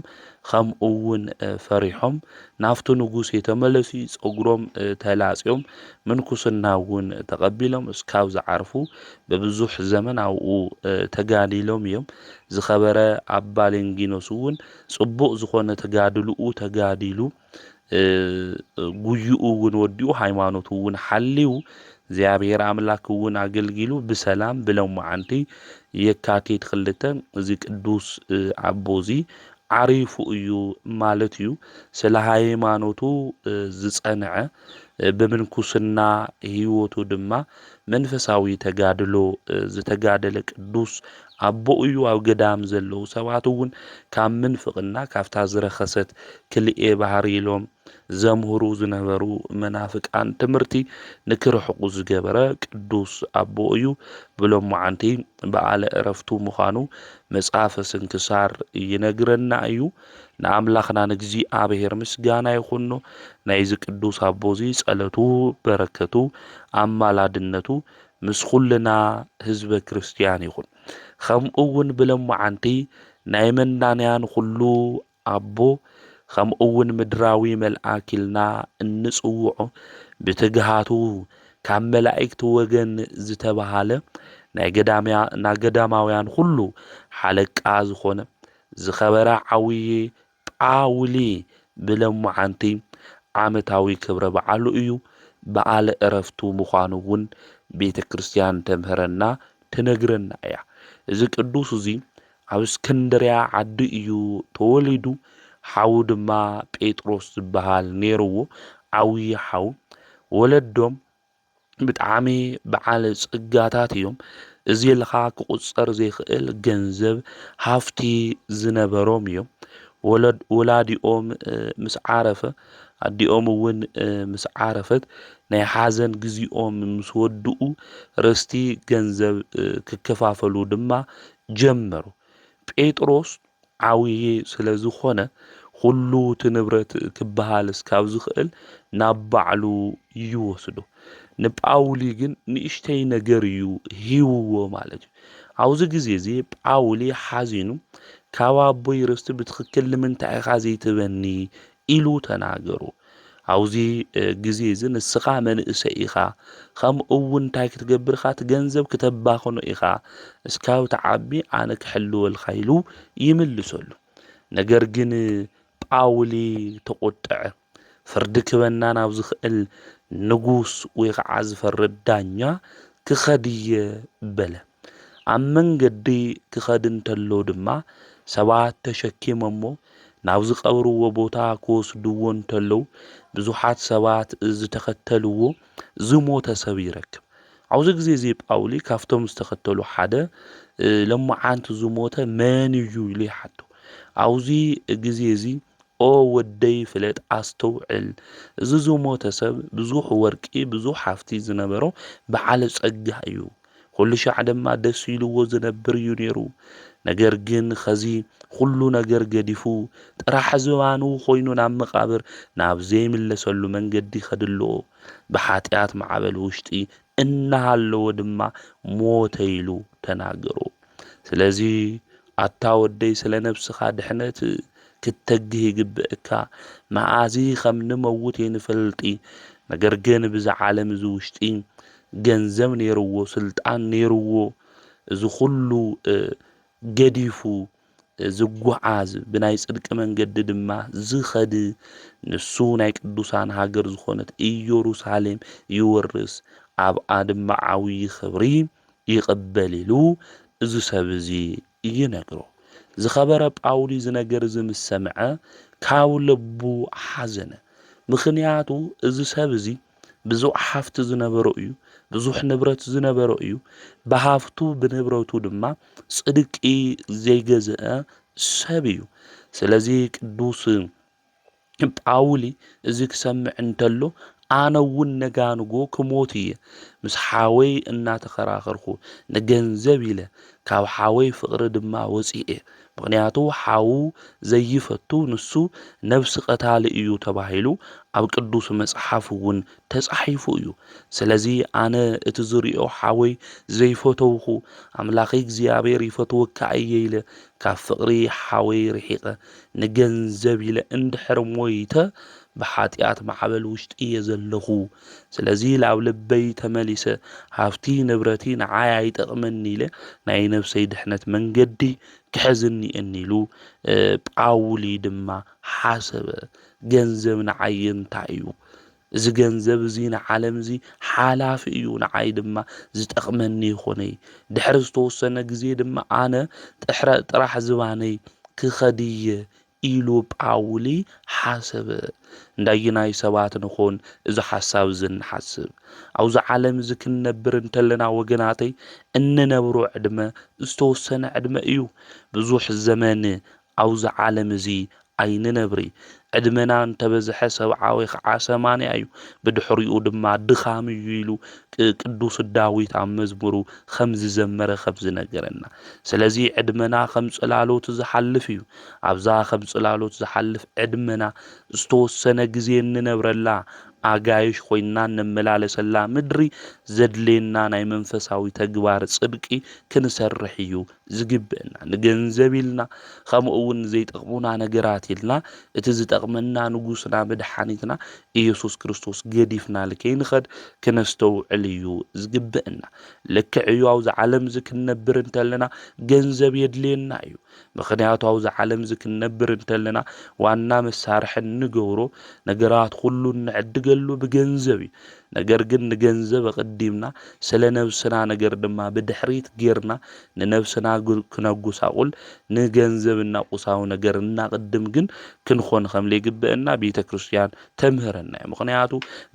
ከምኡ እውን ፈሪሖም ናብቲ ንጉስ የተመለሱ ጸጉሮም ተላጽዮም ምንኩስና እውን ተቐቢሎም እስካብ ዝዓርፉ ብብዙሕ ዘመን ኣብኡ ተጋዲሎም እዮም ዝኸበረ ኣባ ሌንጊኖስ እውን ጽቡቕ ዝኾነ ተጋድልኡ ተጋዲሉ ጉዩኡ እውን ወዲኡ ሃይማኖቱ እውን ሓልዩ እግዚኣብሔር ኣምላክ እውን ኣገልጊሉ ብሰላም ብለማዓንቲ የካቲት ክልተ እዚ ቅዱስ ኣቦ እዚ ዓሪፉ እዩ ማለት እዩ። ስለ ሃይማኖቱ ዝጸንዐ ብምንኩስና ህይወቱ ድማ መንፈሳዊ ተጋድሎ ዝተጋደለ ቅዱስ ኣቦኡዩ ኣብ ገዳም ዘለዉ ሰባት እውን ካብ ምንፍቅና ካብታ ዝረከሰት ክልኤ ባህሪ ኢሎም ዘምህሩ ዝነበሩ መናፍቃን ትምህርቲ ንክርሕቁ ዝገበረ ቅዱስ ኣቦኡዩ ብሎማዓንቲ በኣለ እረፍቱ ምዃኑ መጽሐፈ ስንክሳር ይነግረና እዩ ንኣምላክና ንእግዚኣብሔር ምስጋና ይኹኖ ናይዚ ቅዱስ ኣቦዚ ጸለቱ በረከቱ ኣማላድነቱ ምስ ኹልና ህዝበ ክርስትያን ይኹን ኸምኡውን ብለማዓንቲ ናይ መናንያን ኹሉ ኣቦ ኸምኡውን ምድራዊ መልኣክ ኢልና እንጽውዖ ብትግሃቱ ካብ መላእክት ወገን ዝተባሃለ ናይ ገዳማውያን ኹሉ ሓለቃ ዝኾነ ዝኸበረ ዓውዪ ጳውሊ ብለሞዓንቲ ዓመታዊ ክብረ በዓሉ እዩ፣ በዓለ ዕረፍቱ ምዃኑ እውን ቤተ ክርስቲያን ተምህረና ትነግረና እያ። እዚ ቅዱስ እዚ ኣብ እስክንድርያ ዓዱ እዩ ተወሊዱ፣ ሓዉ ድማ ጴጥሮስ ዝበሃል ነይርዎ፣ ዓብዪ ሓዉ። ወለዶም ብጣዕሚ በዓል ጸጋታት እዮም። እዚ ኢልኻ ክቑጸር ዘይክእል ገንዘብ ሃፍቲ ዝነበሮም እዮም። ወላዲኦም ምስ ዓረፈ ኣዲኦም እውን ምስ ዓረፈት ናይ ሓዘን ግዜኦም ምስ ወድኡ ርስቲ ገንዘብ ክከፋፈሉ ድማ ጀመሩ። ጴጥሮስ ዓብዪ ስለ ዝኾነ ኹሉ እቲ ንብረት ክበሃል እስካብ ዝኽእል ናብ ባዕሉ ይወስዶ። ንጳውሊ ግን ንእሽተይ ነገር እዩ ሂብዎ ማለት እዩ። ኣብዚ ግዜ እዚ ጳውሊ ሓዚኑ ካብ ኣቦይ ርስቲ ብትኽክል ንምንታይ ኢኻ ዘይትህበኒ ኢሉ ተናገሩ። ኣብ'ዚ ግዜ'ዚ ንስኻ መንእሰይ ኢኻ፣ ከምኡ'ውን እንታይ ክትገብር ኢኻ፣ እቲ ገንዘብ ክተባኽኖ ኢኻ፣ እስካብ ትዓቢ ኣነ ክሕልወልካ ኢሉ ይምልሰሉ። ነገር ግን ጳውሊ ተቖጥዐ። ፍርዲ ክበና ናብ ዝኽእል ንጉስ ወይ ኸዓ ዝፈርድ ዳኛ ክኸድ'የ በለ። ኣብ መንገዲ ክኸድ እንተሎ ድማ ሰባት ተሸኪሞሞ ናብ ዝቐብርዎ ቦታ ክወስድዎ እንተለው ብዙሓት ሰባት ዝተኸተልዎ ዝሞተ ሰብ ይረክብ። ኣብዚ ግዜ እዚ ጳውሊ ካብቶም ዝተኸተሉ ሓደ ለማዓንቲ ዝሞተ መን እዩ ኢሉ ይሓቶ። ኣብዚ ግዜ እዚ ኦ ወደይ ፍለጥ ኣስተውዕል እዚ ዝሞተ ሰብ ብዙሕ ወርቂ ብዙሕ ሃፍቲ ዝነበሮ በዓል ጸጋ እዩ ኹሉ ሻዕ ድማ ደስ ኢሉዎ ዝነብር እዩ ነይሩ። ነገር ግን ኸዚ ኹሉ ነገር ገዲፉ ጥራሕ ዝባኑ ኾይኑ ናብ መቓብር ናብ ዘይምለሰሉ መንገዲ ይኸድ ኣሎ። ብሓጥያት ማዕበል ውሽጢ እናሃለወ ድማ ሞተ ኢሉ ተናገሮ። ስለዚ ኣታ ወደይ ስለ ነብስካ ድሕነት ክትተግህ ይግበእካ መኣዚ ከም ንመውት የንፈልጢ ነገር ግን ብዚ ዓለም እዚ ውሽጢ ገንዘብ ነይርዎ ስልጣን ነይርዎ እዚ ኩሉ ገዲፉ ዝጉዓዝ ብናይ ጽድቂ መንገዲ ድማ ዝከድ ንሱ ናይ ቅዱሳን ሃገር ዝኮነት ኢዮሩሳሌም ይወርስ ኣብኣ ድማ ዓውዪ ክብሪ ይቕበል ኢሉ እዚ ሰብ እዚ ይነግሮ። ዝኸበረ ጳውሊ እዚ ነገር እዚ ምስ ሰምዐ ካብ ልቡ ሓዘነ። ምኽንያቱ እዚ ሰብ እዚ ብዙሕ ሃፍቲ ዝነበሮ እዩ፣ ብዙሕ ንብረት ዝነበሮ እዩ፣ ብሃፍቱ ብንብረቱ ድማ ጽድቂ ዘይገዝአ ሰብ እዩ። ስለዚ ቅዱስ ጳውሊ እዚ ክሰምዕ እንተሎ ኣነ እውን ነጋንጎ ክሞት እየ ምስ ሓወይ እናተኸራኸርኩ ንገንዘብ ኢለ ካብ ሓወይ ፍቕሪ ድማ ወፂኤ ምኽንያቱ ሓዉ ዘይፈቱ ንሱ ነብሲ ቐታሊ እዩ ተባሂሉ ኣብ ቅዱስ መፅሓፍ እውን ተፃሒፉ እዩ ስለዚ ኣነ እቲ ዝሪኦ ሓወይ ዘይፈተውኹ ኣምላኸይ እግዚኣብሔር ይፈትወካ እየ ኢለ ካብ ፍቕሪ ሓወይ ርሒቐ ንገንዘብ ኢለ እንድሕር ሞይተ ብሓጥያት ማዕበል ውሽጢ እየ ዘለኹ ስለዚ ላብ ልበይ ተመሊሰ ሃፍቲ ንብረቲ ንዓይ ኣይጠቅመኒ ኢለ ናይ ነብሰይ ድሕነት መንገዲ ክሕዝ እኒኤኒ ኢሉ ጳውሊ ድማ ሓሰበ ገንዘብ ንዓይ እንታይ እዩ እዚ ገንዘብ እዚ ንዓለም እዚ ሓላፊ እዩ፣ ንዓይ ድማ ዝጠቕመኒ ይኹነይ። ድሕሪ ዝተወሰነ ግዜ ድማ ኣነ ጥራሕ ዝባነይ ክኸድ እየ ኢሉ ጳውሊ ሓሰበ። እንዳየናይ ሰባት ንኾን እዚ ሓሳብ እዚ እንሓስብ? ኣብዚ ዓለም እዚ ክንነብር እንተለና ወገናተይ፣ እንነብሮ ዕድመ ዝተወሰነ ዕድመ እዩ። ብዙሕ ዘመን ኣብ'ዚ ዓለም'ዚ ኣይንነብሪ። ዕድመና እንተበዝሐ ሰብዓዊ ኸዓ ሰማንያ'ዩ፣ ብድሕሪኡ ድማ ድኻም'ዩ ኢሉ ቅ-ቅዱስ ዳዊት ኣብ መዝሙሩ ኸም ዝዘመረ ኸም ዝነገረና። ስለ'ዚ ዕድመና ኸም ጽላሎት ዝሓልፍ'ዩ። ኣብ'ዛ ኸም ጽላሎት ዝሓልፍ ዕድመና ዝተወሰነ ግዜ እንነብረላ፣ ኣጋይሽ ኾይንና እንመላለሰላ ምድሪ፣ ዘድልየና ናይ መንፈሳዊ ተግባር ጽድቂ ክንሰርሕ'ዩ ዝግበእና ንገንዘብ ኢልና ከምኡ እውን ንዘይጠቕሙና ነገራት ኢልና እቲ ዝጠቕመና ንጉስና መድሓኒትና ኢየሱስ ክርስቶስ ገዲፍና ልከይንኸድ ክነስተውዕል እዩ ዝግበእና ልክዕ እዩ ኣብዛ ዓለም እዚ ክንነብር እንተለና ገንዘብ የድልየና እዩ ምክንያቱ ኣብዛ ዓለም እዚ ክንነብር እንተለና ዋና መሳርሒ እንገብሮ ነገራት ኩሉ እንዕድገሉ ብገንዘብ እዩ ነገር ግን ንገንዘብ ኣቐዲምና ስለ ነብስና ነገር ድማ ብድሕሪት ጌርና ንነብስና ክነጉሳቑል ንገንዘብ እና ቁሳዊ ነገር እናቕድም ግን ክንኾን ከምለይግበእና ቤተ ክርስትያን ተምህረና እዩ ምኽንያቱ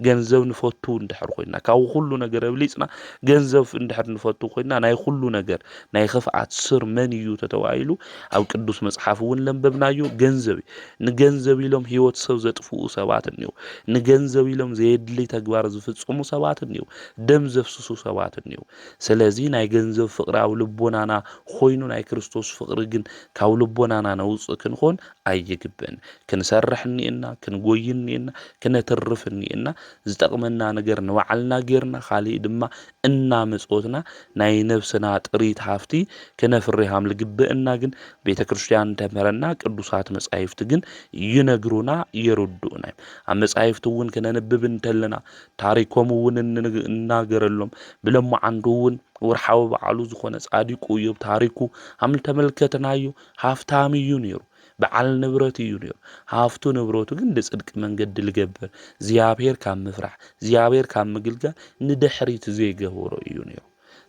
ገንዘብ ንፈቱ እንድሕር ኮይና ካብ ኩሉ ነገር ኣብሊጽና ገንዘብ እንድሕር ንፈቱ ኮይና ናይ ኩሉ ነገር ናይ ኽፍኣት ስር መን እዩ ተተባሂሉ ኣብ ቅዱስ መጽሓፍ እውን ለንበብናዮ ገንዘብ እዩ ንገንዘብ ኢሎም ህይወት ሰብ ዘጥፍኡ ሰባት እኒዉ። ንገንዘብ ኢሎም ዘየድልይ ተግባር ዝፍፅሙ ሰባት እኒዉ። ደም ዘፍስሱ ሰባት እኒዉ። ስለዚ ናይ ገንዘብ ፍቕሪ ኣብ ልቦናና ኾይኑ ናይ ክርስቶስ ፍቕሪ ግን ካብ ልቦናና ነውፅእ ክንኾን ኣይግብእን። ክንሰርሕ እኒኤና፣ ክንጎዪ እኒኤና፣ ክነትርፍ እኒኤና፣ ዝጠቕመና ነገር ንባዕልና ገይርና ካሊእ ድማ እናመጸወትና ናይ ነብስና ጥሪት ሃፍቲ ክነፍሪ ሃም ልግበእና ግን ቤተ ክርስቲያን ተምህረና ቅዱሳት መጻሂፍት ግን ይነግሩና የርዱኡና እዮም ኣብ መጻሂፍት እውን ክነንብብ እንተለና ታሪኮም እውን እንናገረሎም ብለማዓንዱ እውን ወርሓዊ በዓሉ ዝኾነ ጻዲቁ እዮብ ታሪኩ ሃም ልተመልከትናዮ ሃፍታም እዩ ነይሩ በዓል ንብረት እዩ ነይሩ። ሃፍቱ ንብረቱ ግን ብጽድቂ መንገዲ ልገብር፣ እግዚኣብሔር ካብ ምፍራሕ፣ እግዚኣብሔር ካብ ምግልጋል ንድሕሪት ዘይገበሮ እዩ ነይሩ።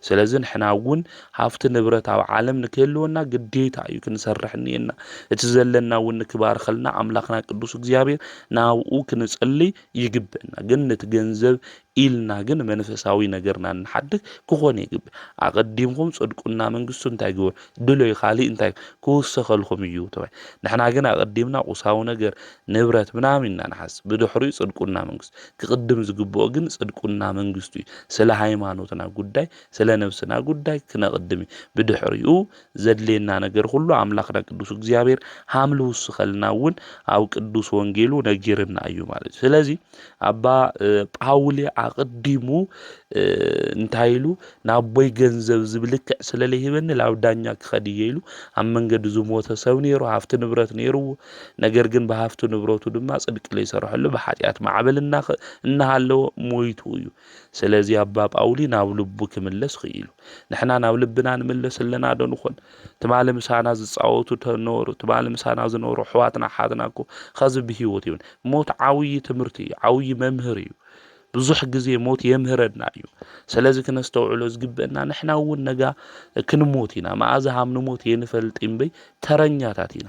ስለዚ ንሕና እውን ሃፍቲ ንብረት ኣብ ዓለም ንክህልወና ግዴታ እዩ ክንሰርሕ እኒኤና። እቲ ዘለና እውን ንክባርኸልና ኣምላኽና ቅዱስ እግዚኣብሔር ናብኡ ክንጽልይ ይግበና። ግን ነቲ ገንዘብ ኢልና ግን መንፈሳዊ ነገርና እንሓድግ ክኾን የግብእ። ኣቐዲምኩም ጽድቁና መንግስቱ እንታይ ግበሩ ድለዩ ካልእ እንታይ ክውሰኸልኩም እዩ ተባሂሉ። ንሕና ግን ኣቐዲምና ቁሳዊ ነገር፣ ንብረት ምናምን ኢና ንሓስብ። ብድሕሪኡ ጽድቁና መንግስቱ። ክቕድም ዝግብኦ ግን ጽድቁና መንግስቱ እዩ። ስለ ሃይማኖትና ጉዳይ፣ ስለ ነብስና ጉዳይ ክነቕድም እዩ። ብድሕሪኡ ዘድልየና ነገር ኹሉ ኣምላኽና ቅዱስ እግዚኣብሔር ሃም ልውስኸልና እውን ኣብ ቅዱስ ወንጌሉ ነጊርና እዩ ማለት እዩ። ስለዚ ኣባ ጳውሊ ኣቕዲሙ እንታይ ኢሉ ናቦይ ገንዘብ ዝብልክዕ ስለ ለይህበኒ ላብ ዳኛ ክኸድ እየ ኢሉ ኣብ መንገዲ ዝሞተ ሰብ ነይሩ ሃፍቲ ንብረት ነይሩዎ ነገር ግን ብሃፍቲ ንብረቱ ድማ ጽድቂ ለይሰረሐሉ ብሓጢኣት ማዕበል እናሃለዎ ሞይቱ እዩ ስለዚ ኣባ ጳውሊ ናብ ልቡ ክምለስ ኽኢሉ። ንሕና ናብ ልብና ንምለስ ኣለና ዶ ንኾን? ትማሊ ምሳና ዝጻወቱ ተነበሩ፣ ትማሊ ምሳና ዝነበሩ ኣሕዋትና ኣሓትና እኮ ኸዚ ብህይወት የብን። ሞት ዓብዪ ትምህርቲ እዩ፣ ዓብዪ መምህር እዩ። ብዙሕ ግዜ ሞት የምህረና እዩ። ስለዚ ክነስተውዕሎ ዝግበእና ንሕና እውን ነጋ ክንሞት ኢና፣ መኣዛ ሃም ንሞት የንፈልጥ እምበይ ተረኛታት ኢና።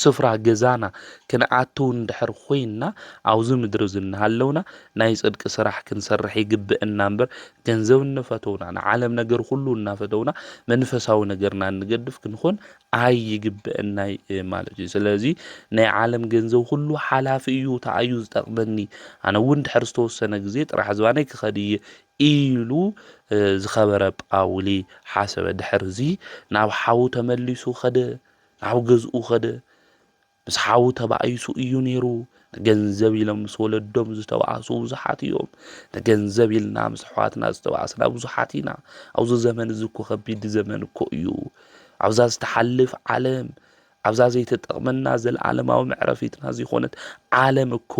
ስፍራ ገዛና ክንኣትው እንድሕር ኮይንና ኣብዚ ምድሪ እዚ እናሃለውና ናይ ጽድቂ ስራሕ ክንሰርሕ ይግብእና እምበር ገንዘብ እንፈተውና ንዓለም ነገር ኩሉ እናፈተውና መንፈሳዊ ነገርና እንገድፍ ክንኾን ኣይግብእናይ ማለት እዩ ስለዚ ናይ ዓለም ገንዘብ ኩሉ ሓላፊ እዩ ተኣዩ ዝጠቅመኒ ኣነ እውን ድሕር ዝተወሰነ ግዜ ጥራሕ ዝባነይ ክኸድ እየ ኢሉ ዝኸበረ ጳውሊ ሓሰበ ድሕርዚ ናብ ሓዉ ተመሊሱ ኸደ ናብ ገዝኡ ከደ። ምስ ሓዉ ተባኢሱ እዩ ነይሩ። ንገንዘብ ኢሎም ምስ ወለዶም ዝተባእሱ ብዙሓት እዮም። ንገንዘብ ኢልና ምስ ኣሕዋትና ዝተባእስና ብዙሓት ኢና። ኣብዚ ዘመን እዚ እኮ ከቢድ ዘመን እኮ እዩ። ኣብዛ ዝተሓልፍ ዓለም ኣብዛ ዘይተጠቕመና ዘለዓለማዊ መዕረፊትና ዝኾነት ዓለም እኮ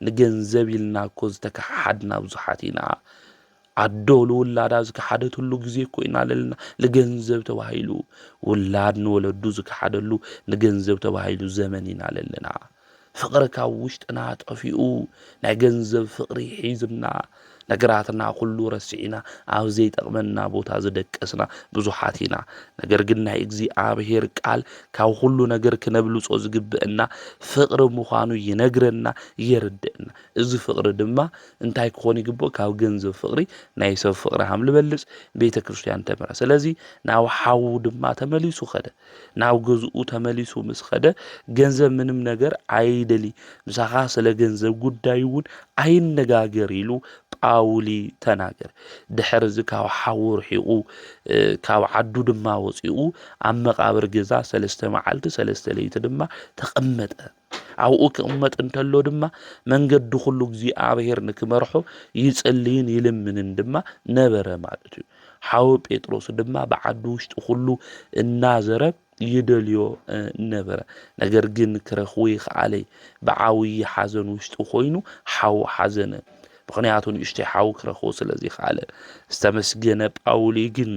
ንገንዘብ ኢልና እኮ ዝተከሓሓድና ብዙሓት ኢና። ኣዶ ንውላዳ ዝከሓደትሉ ግዜ እኮ ኢና ለለና ልገንዘብ ተባሂሉ ውላድ ንወለዱ ዝከሓደሉ ንገንዘብ ተባሂሉ ዘመን ኢና ለለና ፍቕሪ ካብ ውሽጥና ጠፊኡ ናይ ገንዘብ ፍቕሪ ሒዝና ነገራትና ኩሉ ረሲዕና ኣብ ዘይጠቕመና ቦታ ዝደቀስና ብዙሓት ኢና ነገር ግን ናይ እግዚኣብሄር ቃል ካብ ኩሉ ነገር ክነብልጾ ዝግብእና ፍቕሪ ምዃኑ ይነግረና የርድእና እዚ ፍቕሪ ድማ እንታይ ክኾን ይግብኦ ካብ ገንዘብ ፍቅሪ ናይ ሰብ ፍቅሪ ሃም ልበልጽ ቤተ ክርስትያን ተምራ ስለዚ ናብ ሓዉ ድማ ተመሊሱ ከደ ናብ ገዝኡ ተመሊሱ ምስ ከደ ገንዘብ ምንም ነገር ኣይደሊ ምሳኻ ስለ ገንዘብ ጉዳይ እውን ኣይነጋገር ኢሉ ጳውሊ ተናገር ድሕር እዚ ካብ ሓዉ ርሒቑ ካብ ዓዱ ድማ ወፂኡ ኣብ መቃብር ገዛ ሰለስተ መዓልቲ ሰለስተ ለይቲ ድማ ተቐመጠ ኣብኡ ክቕመጥ እንተሎ ድማ መንገዲ ኩሉ እግዚኣብሔር ንክመርሖ ይጽልይን ይልምንን ድማ ነበረ ማለት እዩ። ሓወ ጴጥሮስ ድማ ብዓዲ ውሽጢ ኩሉ እናዘረ ይደልዮ ነበረ። ነገር ግን ክረኽቦ ይኸኣለይ ብዓብዪ ሓዘን ውሽጢ ኮይኑ ሓው ሓዘነ። ምኽንያቱ ንእሽተይ ሓው ክረኽቦ ስለ ዘይከኣለ። ዝተመስገነ ጳውሊ ግን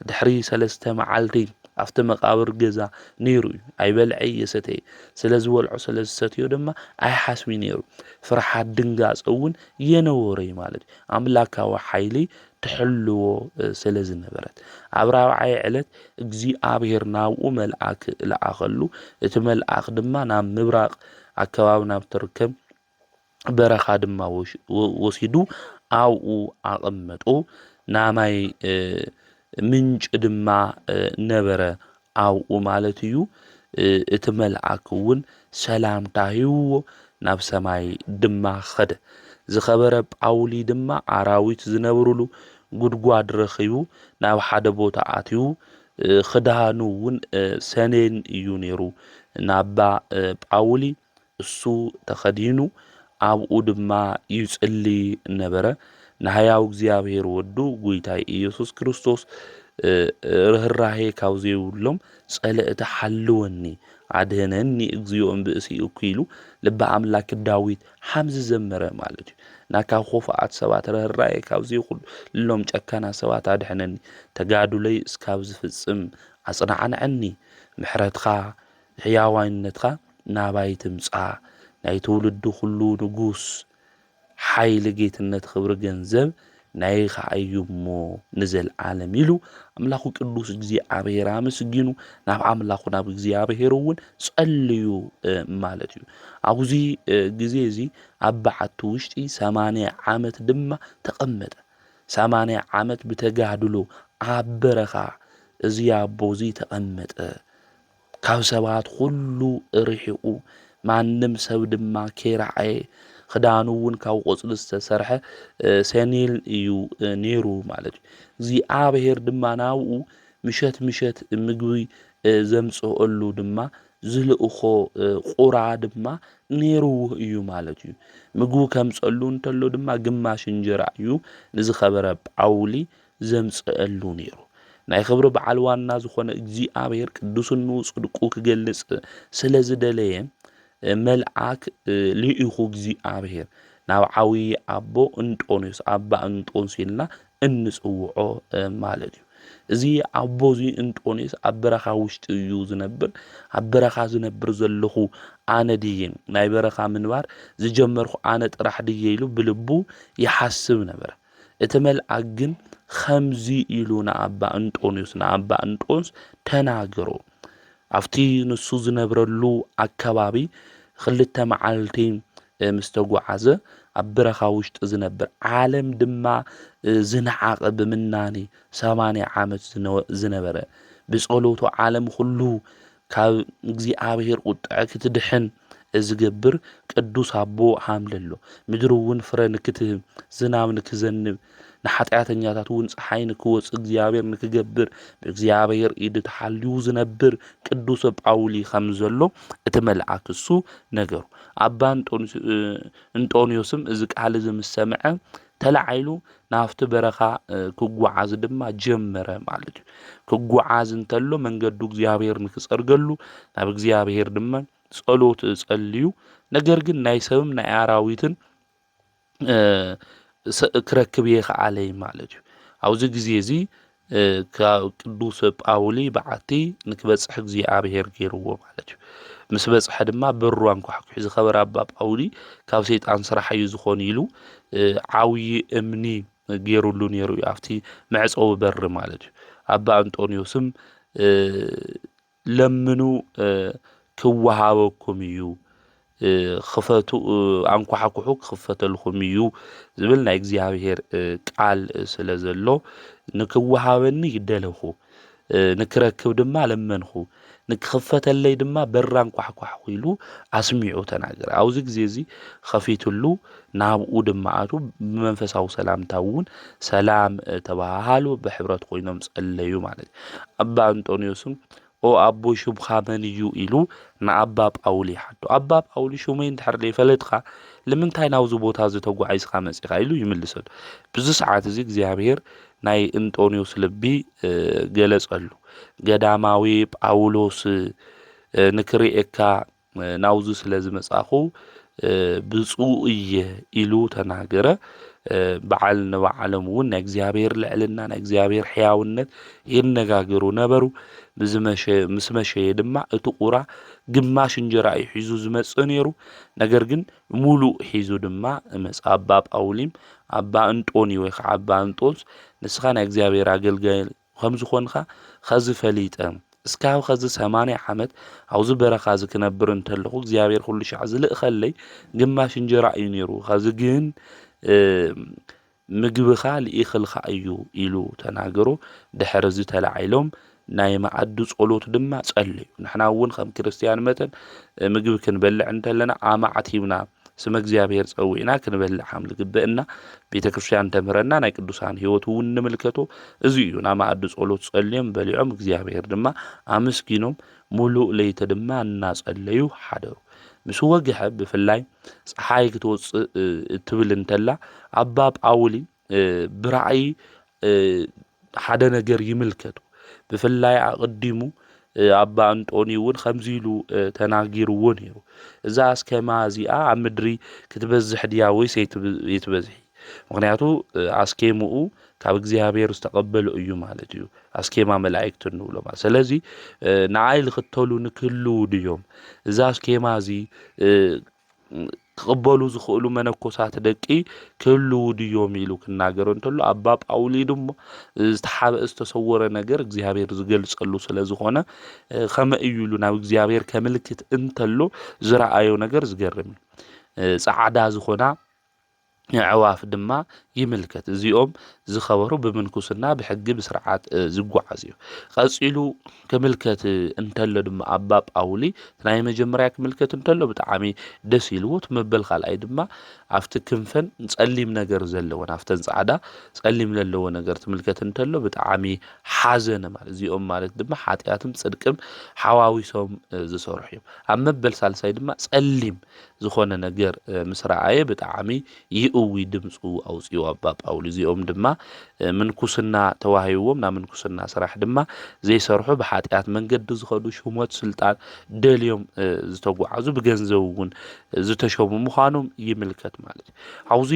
ድሕሪ ሰለስተ መዓልቲ ኣብቲ መቓብር ገዛ ነይሩ እዩ። ኣይበልዐ እየሰተየ፣ ስለ ዝበልዖ ስለ ዝሰትዮ ድማ ኣይሓስቢ ነይሩ። ፍርሓት ድንጋጸ እውን የነበሮ እዩ ማለት እዩ። ኣምላካዊ ሓይሊ ትሕልዎ ስለ ዝነበረት። ኣብ ራብዓይ ዕለት እግዚኣብሔር ናብኡ መልኣክ ለኣኸሉ፣ እቲ መልኣኽ ድማ ናብ ምብራቕ ኣከባቢ ናብ ትርከብ በረኻ ድማ ወሲዱ ኣብኡ ኣቐመጦ። ናይ ማይ ምንጪ ድማ ነበረ ኣብኡ ማለት እዩ። እቲ መልኣክ እውን ሰላምታ ሂብዎ ናብ ሰማይ ድማ ኸደ። ዝኸበረ ጳውሊ ድማ ኣራዊት ዝነብሩሉ ጉድጓድ ረኺቡ ናብ ሓደ ቦታ ኣትዩ ክዳኑ እውን ሰኔን እዩ ነይሩ ናባ ጳውሊ እሱ ተኸዲኑ ኣብኡ ድማ ይጽሊ ነበረ። ንሕያው እግዚኣብሔር ወዱ ጉይታይ ኢየሱስ ክርስቶስ ርኅራሄ ካብ ዘይብሎም ጸለእቲ ሓልወኒ ኣድህነኒ እግዚኦ እምብእሲ እኩይሉ ልቢ ኣምላክ ዳዊት ሓምዚ ዘመረ ማለት እዩ እና ካብ ኾፋኣት ሰባት ርኅራሄ ካብ ዘይብሎም ጨካና ሰባት ኣድሕነኒ ተጋዱለይ እስካብ ዝፍጽም ኣጽናዕንዐኒ ምሕረትካ ሕያዋይነትካ ናባይ ትምጻእ ናይ ትውልዲ ኩሉ ንጉስ ሓይሊ ጌትነት ኽብሪ ገንዘብ ናይኻ እዩ እሞ ንዘልኣለም ኢሉ ኣምላኹ ቅዱስ እግዚኣብሔር ኣመስጊኑ ናብ ኣምላኹ ናብ እግዚኣብሔር እውን ጸልዩ ማለት እዩ ኣብዚ ግዜ እዚ ኣብ በዓቲ ውሽጢ ሰማንያ ዓመት ድማ ተቐመጠ ሰማንያ ዓመት ብተጋድሎ ኣብ በረኻ እዚ ኣቦ እዚ ተቐመጠ ካብ ሰባት ዅሉ ርሒቑ፣ ማንም ሰብ ድማ ከይረኣየ፣ ኽዳኑ እውን ካብ ቈጽሊ ዝተሰርሐ ሰኔል እዩ ነይሩ ማለት እዩ። እግዚኣብሄር ድማ ናብኡ ምሸት ምሸት ምግቢ ዘምጽኣሉ ድማ ዝልእኾ ቍራ ድማ ነይርዎ እዩ ማለት እዩ። ምግቢ ከምጸሉ እንተሎ ድማ ግማሽ እንጀራ እዩ ንዝኸበረ ጳውሊ ዘምጽእሉ ነይሩ። ናይ ኽብሪ በዓል ዋና ዝኾነ እግዚኣብሔር ቅዱስኑ ጽድቁ ክገልጽ ስለ ዝደለየ መልኣክ ልኢኹ እግዚኣብሔር ናብ ዓብዪ ኣቦ እንጦንዮስ ኣባ እንጦንስ ኢልና እንጽውዖ ማለት እዩ። እዚ ኣቦ እዚ እንጦንዮስ ኣብ በረኻ ውሽጢ እዩ ዝነብር። ኣብ በረኻ ዝነብር ዘለኹ ኣነ ድየ ናይ በረኻ ምንባር ዝጀመርኩ ኣነ ጥራሕ ድየ ኢሉ ብልቡ ይሓስብ ነበረ። እቲ መልኣክ ግን ኸምዙይ ኢሉ ንኣባ እንጦንዮስ ንኣባ እንጦንስ ተናገሮ። ኣብቲ ንሱ ዝነብረሉ ኣከባቢ ኽልተ መዓልቲ ምስ ተጓዓዘ ኣብ ብረኻ ውሽጢ ዝነብር ዓለም ድማ ዝነዓቐ ብምናኔ ሰማንያ ዓመት ዝነበረ ብጸሎቱ ዓለም ኹሉ ካብ እግዚኣብሔር ቁጥዐ ክትድሕን እዝገብር ቅዱስ ኣቦ ሃምለሎ። ምድርውን ፍረ ንክትህብ፣ ዝናብ ንክዘንብ፣ ንሓጢኣተኛታትውን ፀሓይ ንክወፅ እግዚኣብሔር ንክገብር ብእግዚኣብሔር ኢድ ተሓልዩ ዝነብር ቅዱሰ ጳውሊ ከምዘሎ እቲ መልኣክ እሱ ነገሩ። ኣባ እንጦንዮስም እዚ ቃል እዚ ምስ ሰምዐ ተላዒሉ ናብቲ በረኻ ክጓዓዝ ድማ ጀመረ ማለት እዩ ክጓዓዝ እንተሎ መንገዱ እግዚኣብሔር ንክጸርገሉ ናብ እግዚኣብሔር ድማ ጸሎት ጸልዩ ነገር ግን ናይ ሰብም ናይ ኣራዊትን ክረክብ የኸኣለይ ማለት እዩ ኣብዚ ግዜ እዚ ካብ ቅዱስ ጳውሊ በዓቲ ንክበጽሕ እግዚኣብሔር ገይርዎ ማለት እዩ ምስ በጽሐ ድማ በሩ ኣንኳሕኩሕ ዝኸበረ ኣባ ጳውሊ ካብ ሰይጣን ስራሕ እዩ ዝኾኑ ኢሉ ዓብዪ እምኒ ገይሩሉ ነይሩ እዩ ኣብቲ መዕፀዊ በሪ ማለት እዩ ኣባ እንጦንዮስም ለምኑ ኪወሃበኩም እዩ፣ ኽፈቱ ኣንኳሕኵሑ ኪኽፈተልኩም እዩ ዝብል ናይ እግዚኣብሄር ቃል ስለ ዘሎ ንኪወሃበኒ ደለኹ፣ ንክረክብ ድማ ለመንኹ፣ ንኪኽፈተለይ ድማ በር ኣንኳሕኳሕኩ ኢሉ ኣስሚዑ ተናገረ። ኣብዚ ግዜ እዚ ኸፊትሉ ናብኡ ድማ ኣትዉ፣ ብመንፈሳዊ ሰላምታ እውን ሰላም ተበሃሃሉ፣ ብሕብረት ኮይኖም ጸለዩ ማለት እዩ። ኣባ እንጦንዮስም ኦ ኣቦይ ሹምካ መን እዩ ኢሉ ንኣባ ጳውሊ ይሓቶ። ኣባ ጳውሊ ሹመይ እንድሕር ዘይፈለጥካ ልምንታይ ናብዚ ቦታ እዚ ተጓዒዝካ መጺኻ ኢሉ ይምልሰሉ። ብዚ ሰዓት እዚ እግዚኣብሔር ናይ እንጦንዮስ ልቢ ገለጸሉ። ገዳማዊ ጳውሎስ ንክርኤካ ናብዚ ስለ ዝመጻኹ ብፁእ እየ ኢሉ ተናገረ። በዓል ንበዓሎም እውን ናይ እግዚኣብሔር ልዕልና ናይ እግዚኣብሔር ሕያውነት ይነጋገሩ ነበሩ። ምስ መሸየ ድማ እቲ ቁራ ግማሽ እንጀራ እዩ ሒዙ ዝመጽእ ነይሩ። ነገር ግን ሙሉእ ሒዙ ድማ መጽ ኣባ ጳውሊም ኣባ እንጦኒ ወይ ከዓ ኣባ እንጦንስ ንስኻ ናይ እግዚኣብሔር ኣገልጋይ ከም ዝዀንካ ኸዚ ፈሊጠ፣ እስካብ ኸዚ ሰማንያ ዓመት ኣብዚ በረኻ እዚ ክነብር እንተለኹ፣ እግዚኣብሄር ዅሉ ሻዕ ዚልእኸለይ ግማሽ እንጀራ እዩ ነይሩ፣ ኸዚ ግን ምግብኻ ልኢኽልካ እዩ ኢሉ ተናገሮ። ድሕርዚ ተላዒሎም ናይ መኣዲ ጸሎት ድማ ጸለዩ። ንሕና እውን ከም ክርስትያን መጠን ምግቢ ክንበልዕ እንተለና ኣማዕቲብና ስመ እግዚኣብሔር ጸዊዕና ክንበልዕ ከም ዝግበእና ቤተ ክርስቲያን ተምህረና ናይ ቅዱሳን ህይወት እውን ንምልከቶ እዚ እዩ ናብ መኣዲ ጸሎት ጸልዮም በሊዖም እግዚኣብሔር ድማ ኣመስጊኖም ሙሉእ ለይተ ድማ እናጸለዩ ሓደሩ ምስ ወግሐ ብፍላይ ፀሓይ ክትወፅእ እትብል እንተላ ኣባ ጳውሊ ብራእይ ሓደ ነገር ይምልከቱ ብፍላይ ኣቕዲሙ ኣባ እንጦኒ እውን ከምዚ ኢሉ ተናጊርዎ ነይሩ እዛ ኣስከማ እዚኣ ኣብ ምድሪ ክትበዝሕ ድያ ወይስ የትበዝሒ ምክንያቱ ኣስኬምኡ ካብ እግዚኣብሔር ዝተቐበሉ እዩ ማለት እዩ ኣስኬማ መላእክት እንብሎ ማለት ስለዚ ንኣይ ልኽተሉ ንክህልው ድዮም እዛ ኣስኬማ እዚ ክቕበሉ ዝኽእሉ መነኮሳት ደቂ ክህልዉ ድዮም ኢሉ ክናገር እንተሎ ኣባ ጳውሊ ድማ ዝተሓብአ ዝተሰወረ ነገር እግዚኣብሔር ዝገልጸሉ ስለ ዝኾነ ከመ እዩ ኢሉ ናብ እግዚኣብሔር ከምልክት እንተሎ ዝረኣዮ ነገር ዝገርም እዩ። ጻዕዳ ዝኾና ኣዕዋፍ ድማ ይምልከት። እዚኦም ዝኸበሩ ብምንኩስና ብሕጊ ብስርዓት ዝጓዓዝ እዩ። ቀጺሉ ክምልከት እንተሎ ድማ ኣባ ጳውሊ ናይ መጀመርያ ክምልከት እንተሎ ብጣዕሚ ደስ ኢልዎ እቲ መበል ካልኣይ ድማ ኣብቲ ክንፈን ጸሊም ነገር ዘለወን ኣብተን ጻዕዳ ጸሊም ዘለዎ ነገር ትምልከት እንተሎ ብጣዕሚ ሓዘነ ማለት እዚኦም ማለት ድማ ሓጢኣትም ጽድቅም ሓዋዊሶም ዝሰርሑ እዮም። ኣብ መበል ሳልሳይ ድማ ጸሊም ዝኾነ ነገር ምስ ረኣየ ብጣዕሚ ይእዊ ድምጹ ኣውጺኡ ኣባ ጳውሊ እዚኦም ድማ ምንኩስና ተዋሂብዎም ናብ ምንኩስና ስራሕ ድማ ዘይሰርሑ ብሓጢኣት መንገዲ ዝኸዱ ሹመት ስልጣን ደልዮም ዝተጓዓዙ ብገንዘብ እውን ዝተሾሙ ምዃኖም ይምልከት ማለት እዩ ኣብዚ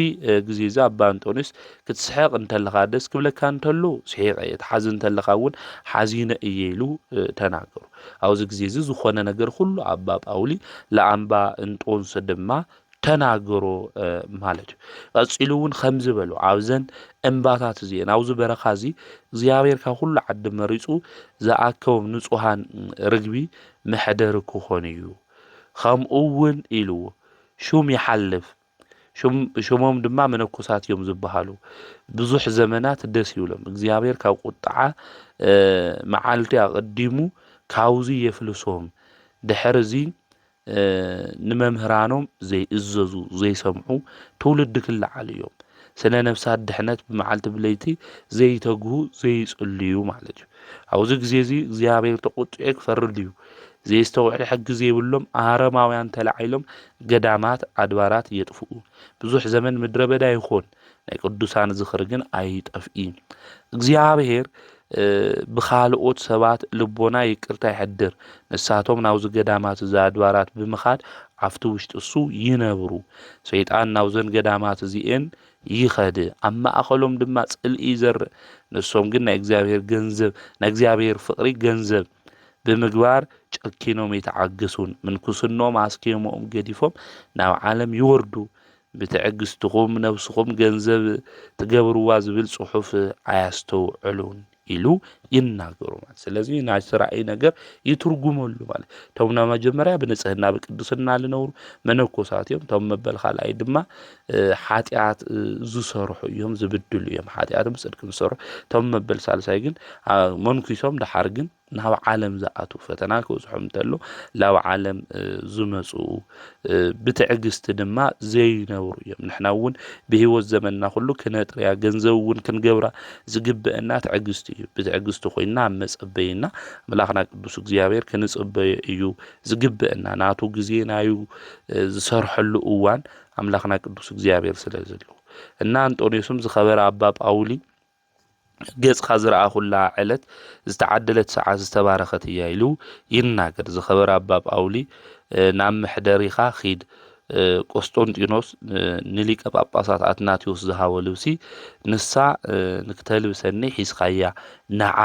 ግዜ እዚ ኣባ ኣንጦንዮስ ክትስሕቕ እንተለኻ ደስ ክብለካ እንተሎ ስሒቐ እየ ትሓዝን እንተለኻ እውን ሓዚነ እየ ኢሉ ተናገሩ ኣብዚ ግዜዚ ዝኾነ ነገር ኹሉ ኣባ ጳውሊ ለኣንባ እንጦንስ ድማ ተናገሮ ማለት እዩ ቀጺሉ እውን ከምዚ በሉ ኣብዘን እምባታት እዚኤን ኣብዚ በረኻ እዚ እግዚኣብሔር ካብ ኩሉ ዓዲ መሪጹ ዝኣከቦም ንጹሃን ርግቢ መሕደሪ ክኾኑ እዩ ከምኡ እውን ኢልዎ ሹም ይሓልፍ ሽሞም ድማ መነኮሳት እዮም ዝበሃሉ ብዙሕ ዘመናት ደስ ይብሎም እግዚኣብሔር ካብ ቁጥዓ መዓልቲ ኣቐዲሙ ካብዙ የፍልሶም ድሕር እዙ ንመምህራኖም ዘይእዘዙ ዘይሰምዑ ትውልዲ ክለዓሉ እዮም ስነ ነፍሳት ድሕነት ብመዓልቲ ብለይቲ ዘይተግሁ ዘይጽልዩ ማለት እዩ ኣብዚ ግዜ እዚ እግዚኣብሔር ተቖጢዑ ክፈርድ እዩ ዘየስተውዕል ሕጊ ዘይብሎም ኣረማውያን ተላዒሎም ገዳማት ኣድባራት የጥፍኡ ብዙሕ ዘመን ምድረ በዳ ይኾን ናይ ቅዱሳን ዝኽሪ ግን ኣይጠፍኢ እግዚኣብሔር ብኻልኦት ሰባት ልቦና ይቅርታ ይሕድር ንሳቶም ናብዚ ገዳማት እዚ ኣድባራት ብምኻድ ኣብቲ ውሽጢ እሱ ይነብሩ ሰይጣን ናብዘን ገዳማት እዚኤን ይኸድ ኣብ ማእኸሎም ድማ ጽልኢ ይዘርእ ንሶም ግን ናይ እግዚኣብሔር ገንዘብ ናይ እግዚኣብሔር ፍቅሪ ገንዘብ ብምግባር ጨኪኖም ይተዓግሱን ምንኩስኖም ኣስኬምኦም ገዲፎም ናብ ዓለም ይወርዱ ብትዕግስትኹም ነብስኹም ገንዘብ ትገብርዋ ዝብል ጽሑፍ ኣያስተውዕሉን ኢሉ ይናገሩ ማለት ስለዚ ናይ ስራእይ ነገር ይትርጉመሉ ማለት እቶም ናይ መጀመርያ ብንጽህና ብቅድስና ዝነብሩ መነኮሳት እዮም እቶም መበል ካልኣይ ድማ ሓጢኣት ዝሰርሑ እዮም ዝብድሉ እዮም ሓጢኣትን ብፅድቅን ዝሰርሑ እቶም መበል ሳልሳይ ግን መንኩሶም ደሓር ግን ናብ ዓለም ዝኣትዉ ፈተና ክብፅሖም እንተሎ ናብ ዓለም ዝመፁ ብትዕግስቲ ድማ ዘይነብሩ እዮም ንሕና እውን ብሂወት ዘመንና ኩሉ ክነጥርያ ገንዘብ እውን ክንገብራ ዝግበአና ትዕግስቲ እዩ ብትዕግስቲ ኮይና ኣብ መፀበይና ኣምላኽና ቅዱስ እግዚኣብሔር ክንፅበዮ እዩ ዝግበአና ናቱ ግዜ ናዩ ዝሰርሐሉ እዋን ኣምላኽና ቅዱስ እግዚኣብሔር ስለ ዘሉ እና ኣንጦንዮስም ዝኸበረ ኣባ ጳውሊ ገጽካ ዝረኣኹላ ዕለት ዝተዓደለት ሰዓት ዝተባረኸት እያ ኢሉ ይናገር። ዝኸበረ ኣባ ጳውሊ ናብ መሕደሪኻ ኺድ ቆስጦንጢኖስ ንሊቀ ጳጳሳት ኣትናቴዎስ ዝሃቦ ልብሲ ንሳ ንክተልብሰኒ ሒዝካያ ንዓ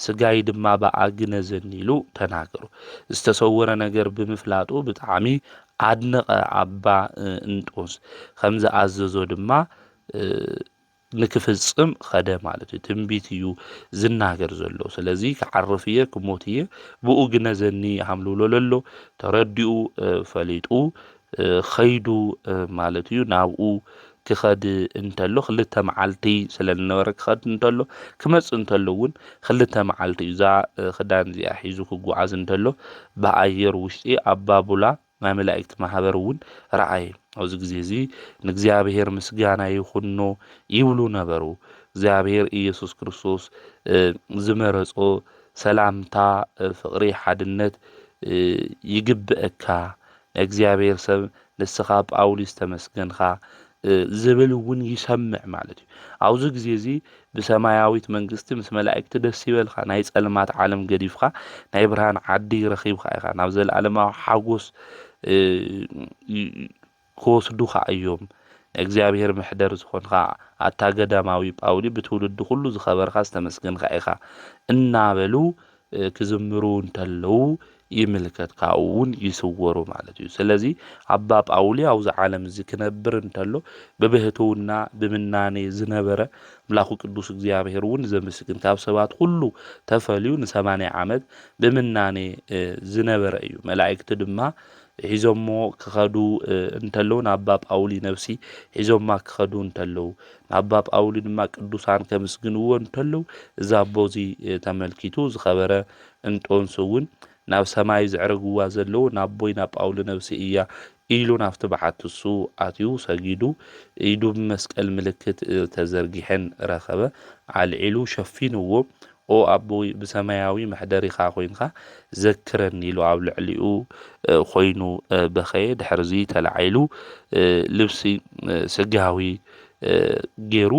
ስጋይ ድማ በኣ ግነዘኒ ኢሉ ተናገሩ። ዝተሰወረ ነገር ብምፍላጡ ብጣዕሚ ኣድነቐ ኣባ እንጦንስ ከም ዝኣዘዞ ድማ ንክፍጽም ኸደ ማለት እዩ ትንቢት እዩ ዝናገር ዘሎ ስለዚ ክዓርፍ እየ ክሞት እየ ብኡ ግነዘኒ ሃምልውሎ ለሎ ተረዲኡ ፈሊጡ ኸይዱ ማለት እዩ ናብኡ ክኸድ እንተሎ ክልተ መዓልቲ ስለ ዝነበረ ክኸድ እንተሎ ክመጽእ እንተሎ እውን ክልተ መዓልቲ እዩ እዛ ክዳን እዚኣ ሒዙ ክጓዓዝ እንተሎ ብኣየር ውሽጢ ኣብ ባቡላ ናይ መላእክቲ ማህበር እውን ረኣየ ኣብዚ ግዜ እዚ ንእግዚኣብሔር ምስጋና ይኹኖ ይብሉ ነበሩ እግዚኣብሔር ኢየሱስ ክርስቶስ ዝመረጾ ሰላምታ ፍቕሪ ሓድነት ይግብእካ ንእግዚኣብሔር ሰብ ንስኻ ጳውሊስ ተመስገንካ ዝብል እውን ይሰምዕ ማለት እዩ። ኣብዚ ግዜ እዚ ብሰማያዊት መንግስቲ ምስ መላእክቲ ደስ ይበልካ፣ ናይ ጸልማት ዓለም ገዲፍካ ናይ ብርሃን ዓዲ ረኺብካ ኢኻ፣ ናብ ዘለኣለማዊ ሓጎስ ክወስዱኻ እዮም፣ ናይ እግዚኣብሔር መሕደር ዝኾንካ ኣታ ገዳማዊ ጳውሊ ብትውልዲ ኩሉ ዝኸበርካ ዝተመስገንካ ኢኻ እናበሉ ክዝምሩ እንተለዉ ይምልከት ካብኡ ውን ይስወሩ ማለት እዩ ስለዚ ኣባ ጳውሊ ኣብዚ ዓለም እዚ ክነብር እንተሎ ብብህትውና ብምናኔ ዝነበረ ኣምላኩ ቅዱስ እግዚኣብሔር እውን ዘምስግን ካብ ሰባት ኩሉ ተፈልዩ ንሰማንያ ዓመት ብምናኔ ዝነበረ እዩ መላእክቲ ድማ ሒዞሞ ክኸዱ እንተለዉ ንኣባ ጳውሊ ነብሲ ሒዞማ ክኸዱ እንተለዉ ንኣባ ጳውሊ ድማ ቅዱሳን ከምስግንዎ እንተለዉ እዚ ኣቦ እዚ ተመልኪቱ ዝኸበረ እንጦንስ እውን ናብ ሰማይ ዘዕረግዋ ዘለዉ ናቦይ ናብ ጳውሊ ነብሲ እያ ኢሉ ናብቲ በዓቲ እሱ ኣትዩ ሰጊዱ ኢዱ ብመስቀል ምልክት ተዘርጊሐን ረኸበ ኣልዒሉ ሸፊንዎ ኦ ኣቦይ ብሰማያዊ መሕደሪኻ ኮይንካ ዘክረኒ ኢሉ ኣብ ልዕሊኡ ኮይኑ በኸየ ድሕርዚ ተላዒሉ ልብሲ ስጋዊ ጌሩ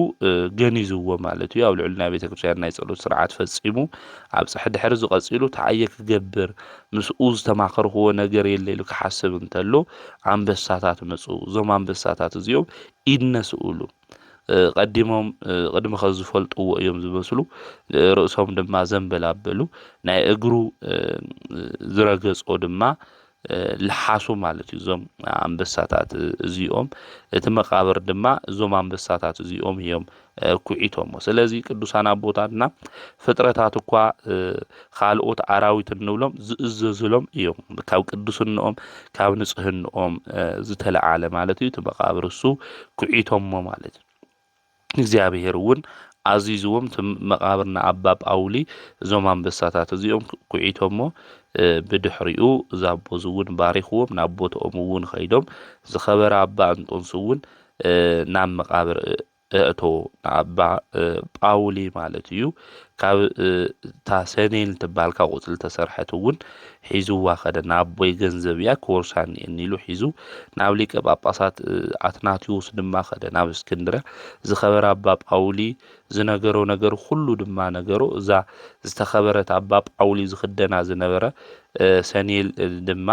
ገኒዝዎ ማለት እዩ ኣብ ልዕሊ ናይ ቤተ ክርስትያን ናይ ጸሎት ስርዓት ፈጺሙ ኣብ ጽሕ ድሕርዚ ቀጺሉ እንታይ እየ ክገብር ምስኡ ዝተማኸርክዎ ነገር የለ ኢሉ ክሓስብ እንተሎ ኣንበሳታት መጹ እዞም ኣንበሳታት እዚኦም ኢድ ነስኡሉ ቀዲሞም ቅድሚ ከዚ ዝፈልጥዎ እዮም ዝመስሉ ርእሶም ድማ ዘንበል ኣበሉ ናይ እግሩ ዝረገጾ ድማ ልሓሱ ማለት እዩ እዞም ኣንበሳታት እዚኦም እቲ መቃብር ድማ እዞም ኣንበሳታት እዚኦም እዮም ኩዒቶሞ ስለዚ ቅዱሳን ኣቦታትና ፍጥረታት እኳ ኻልኦት ኣራዊት እንብሎም ዝእዘዙሎም እዮም። ካብ ቅዱስንኦም ካብ ንጽህንኦም ዝተለዓለ ማለት እዩ እቲ መቓብር እሱ ኩዒቶሞ ማለት እዩ። እግዚኣብሔር እውን ኣዚዝዎም እቲ መቓብር ንኣባ ጳውሊ እዞም ኣንበሳታት እዚኦም ኩዒቶሞ ብድሕሪኡ እዛ ኣቦ እውን ባሪኽዎም ናብ ቦትኦም እውን ኸይዶም ዝኸበረ ኣባ እንጦንስ እውን ናብ መቓብር እቶ ንኣባ ጳውሊ ማለት እዩ ካብ እታ ሰኔን ትበሃል ካብ ቁፅሊ ተሰርሐት እውን ሒዝዋ ከደ ንኣቦይ ገንዘብ እያ ክወርሳ እኒኤኒ ኢሉ ሒዙ ናብ ሊቀ ጳጳሳት ኣትናቴዎስ ድማ ከደ ናብ እስክንድርያ ዝኸበረ ኣባ ጳውሊ ዝነገሮ ነገር ኩሉ ድማ ነገሮ እዛ ዝተኸበረት ኣባ ጳውሊ ዝኽደና ዝነበረ ሰኔል ድማ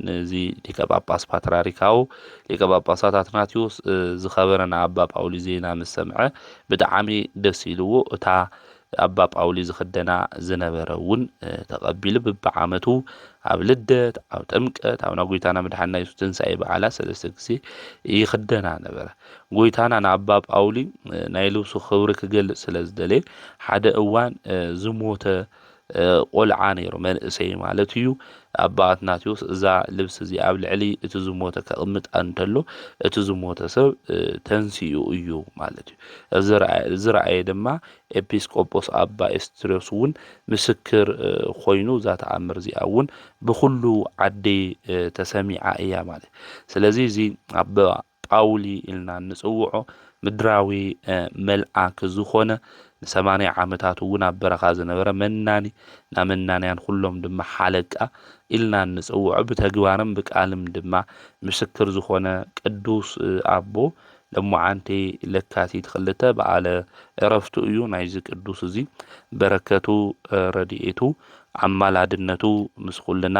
ነዚ ሊቀ ጳጳስ ፓትርያርካዊ ሊቀ ጳጳሳት ኣትናቴዎስ ዝኸበረና ኣባ ጳውሊ ዜና ምስ ሰምዐ ብጣዕሚ ደስ ኢልዎ እታ ኣባ ጳውሊ ዝኽደና ዝነበረ እውን ተቐቢሉ ብብዓመቱ ኣብ ልደት ኣብ ጥምቀት ኣብ ናይ ጎይታና መድሓንና የሱስ ትንሣኤ በዓላት ሰለስተ ግዜ ይኽደና ነበረ ጎይታና ንኣባ ጳውሊ ናይ ልብሱ ክብሪ ክገልጽ ስለ ዝደለየ ሓደ እዋን ዝሞተ ቆልዓ ነይሩ፣ መንእሰይ ማለት እዩ፣ ኣባ ኣትናቴዎስ እዛ ልብሲ እዚኣ ኣብ ልዕሊ እቲ ዝሞተ ከቕምጣ እንተሎ እቲ ዝሞተ ሰብ ተንሲኡ እዩ ማለት እዩ። እዚ ዝረኣየ ድማ ኤጲስ ቆጶስ ኣባ ኤስድርዮስ እውን ምስክር ኮይኑ እዛ ተኣምር እዚኣ እውን ብኹሉ ዓዲ ተሰሚዓ እያ ማለት እዩ። ስለዚ እዚ ኣባ ጳውሊ ኢልና እንጽውዖ ምድራዊ መልኣክ ዝኾነ ንሰማንያ ዓመታት እውን ኣብ በረኻ ዝነበረ መናኒ እና መናንያን ኹሎም ድማ ሓለቃ ኢልና እንጽውዖ ብተግባርም ብቃልም ድማ ምስክር ዝኾነ ቅዱስ ኣቦ ለሞዓንቲ ለካቲት ክልተ በዓለ ዕረፍቱ እዩ ናይዚ ቅዱስ እዚ በረከቱ ረድኤቱ ኣማላድነቱ ምስ ኩልና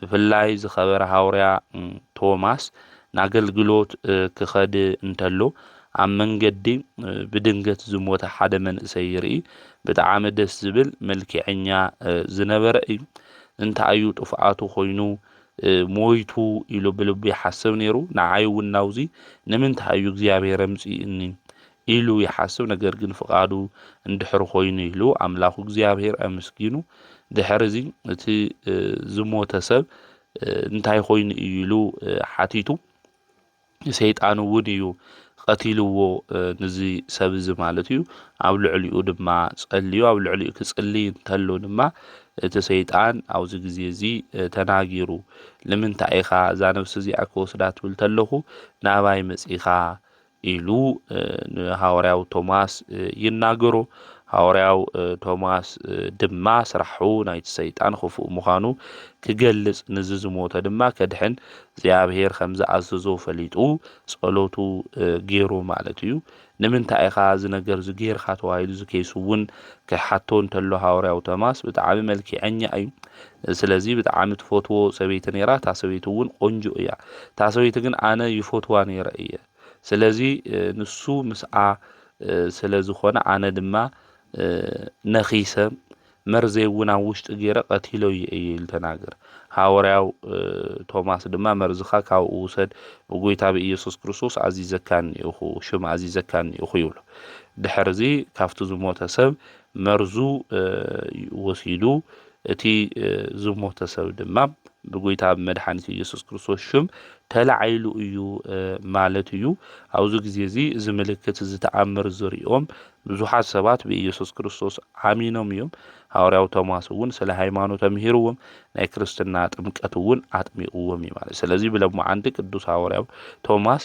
ብፍላይ ዝኸበረ ሃውርያ ቶማስ ናገልግሎት ክኸድ እንተሎ ኣብ መንገዲ ብድንገት ዝሞተ ሓደ መንእሰይ ይርኢ ብጣዓሚ ደስ ዝብል መልኪዐኛ ዝነበረ እዩ እንታይ እዩ ጥፍኣቱ ኮይኑ ሞይቱ ኢሉ ብልቡ ይሓስብ ነይሩ ንዓይ እውን ናውዚ ንምንታይ እዩ እግዚኣብሔር ኣምፂእኒ ኢሉ ይሓስብ ነገር ግን ፍቃዱ እንድሕር ኮይኑ ኢሉ ኣምላኩ እግዚኣብሔር ኣምስጊኑ ድሕር እዚ እቲ ዝሞተ ሰብ እንታይ ኮይኑ እዩ ኢሉ ሓቲቱ ሰይጣን እውን እዩ ቀቲልዎ ንዚ ሰብ እዚ ማለት እዩ ኣብ ልዕሊኡ ድማ ጸልዩ ኣብ ልዕሊኡ ክጽልይ እንተሎ ድማ እቲ ሰይጣን ኣብዚ ግዜ እዚ ተናጊሩ ንምንታይ ኢኻ እዛ ነብሲ እዚኣ ክወስዳ ትብል ተለኹ ናባይ መጺኻ ኢሉ ንሃዋርያው ቶማስ ይናገሮ። ሃዋርያው ቶማስ ድማ ስራሑ ናይቲ ሰይጣን ኽፉእ ምዃኑ ክገልጽ ንዚ ዝሞተ ድማ ከድሕን እግዚኣብሔር ከም ዝኣዘዞ ፈሊጡ ጸሎቱ ገይሩ ማለት እዩ። ንምንታይ ኢኻ እዚ ነገር እዚ ገይርካ ተባሂሉ እዚ ኬስ እውን ክሓቶ እንተሎ ሃዋርያው ቶማስ ብጣዕሚ መልኪዐኛ እዩ ስለዚ ብጣዓሚ ትፈትዎ ሰበይቲ ነይራ እታ ሰበይቲ እውን ቆንጆ እያ እታ ሰበይቲ ግን ኣነ ይፈትዋ ነይረ እየ ስለዚ ንሱ ምስኣ ስለ ዝኾነ ኣነ ድማ ነኺሰ መርዘይ እውን ኣብ ውሽጢ ገይረ ቀቲለዮ እየ ኢሉ ተናገረ ሃወርያው ቶማስ ድማ መርዝኻ ካብኡ ውሰድ ብጎይታ ብኢየሱስ ክርስቶስ ኣዚዘካኒ እኹ ሽም ኣዚዘካኒ እኹ ይብሎ ድሕርዚ ካብቲ ዝሞተ ሰብ መርዙ ወሲዱ እቲ ዝሞተ ሰብ ድማ ብጐይታ ብመድሓኒት ኢየሱስ ክርስቶስ ሽም ተላዒሉ እዩ ማለት እዩ። ኣብዚ ግዜ እዚ እዚ ምልክት እዚ ተኣምር ዝሪኦም ብዙሓት ሰባት ብኢየሱስ ክርስቶስ ኣሚኖም እዮም። ሃዋርያው ቶማስ እውን ስለ ሃይማኖት ኣምሂርዎም ናይ ክርስትና ጥምቀት እውን ኣጥሚቕዎም እዩ ማለት። ስለዚ ብለማዓንቲ ቅዱስ ሃዋርያው ቶማስ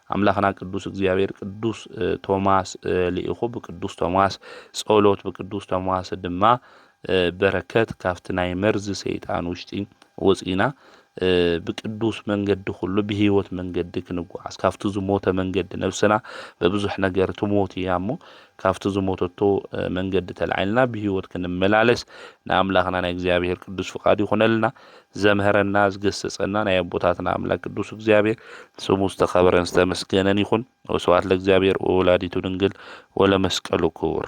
ኣምላኽና ቅዱስ እግዚኣብሔር ቅዱስ ቶማስ ልኢኹ ብቅዱስ ቶማስ ጸሎት ብቅዱስ ቶማስ ድማ በረከት ካብቲ ናይ መርዚ ሰይጣን ውሽጢ ወፂእና ብቅዱስ መንገዲ ኩሉ ብህይወት መንገዲ ክንጓዓዝ ካብቲ ዝሞተ መንገዲ ነብስና በብዙሕ ነገር ትሞት እያ እሞ ካብቲ ዝሞተቶ መንገዲ ተላዒልና ብህይወት ክንመላለስ ንኣምላኽና ናይ እግዚኣብሔር ቅዱስ ፍቃድ ይኹነልና። ዘምህረና ዝገሰጸና ናይ ኣቦታትና ኣምላክ ቅዱስ እግዚኣብሔር ስሙ ዝተከበረን ዝተመስገነን ይኹን። ወስብሐት ለእግዚኣብሔር ወወላዲቱ ድንግል ወለመስቀሉ ክቡር።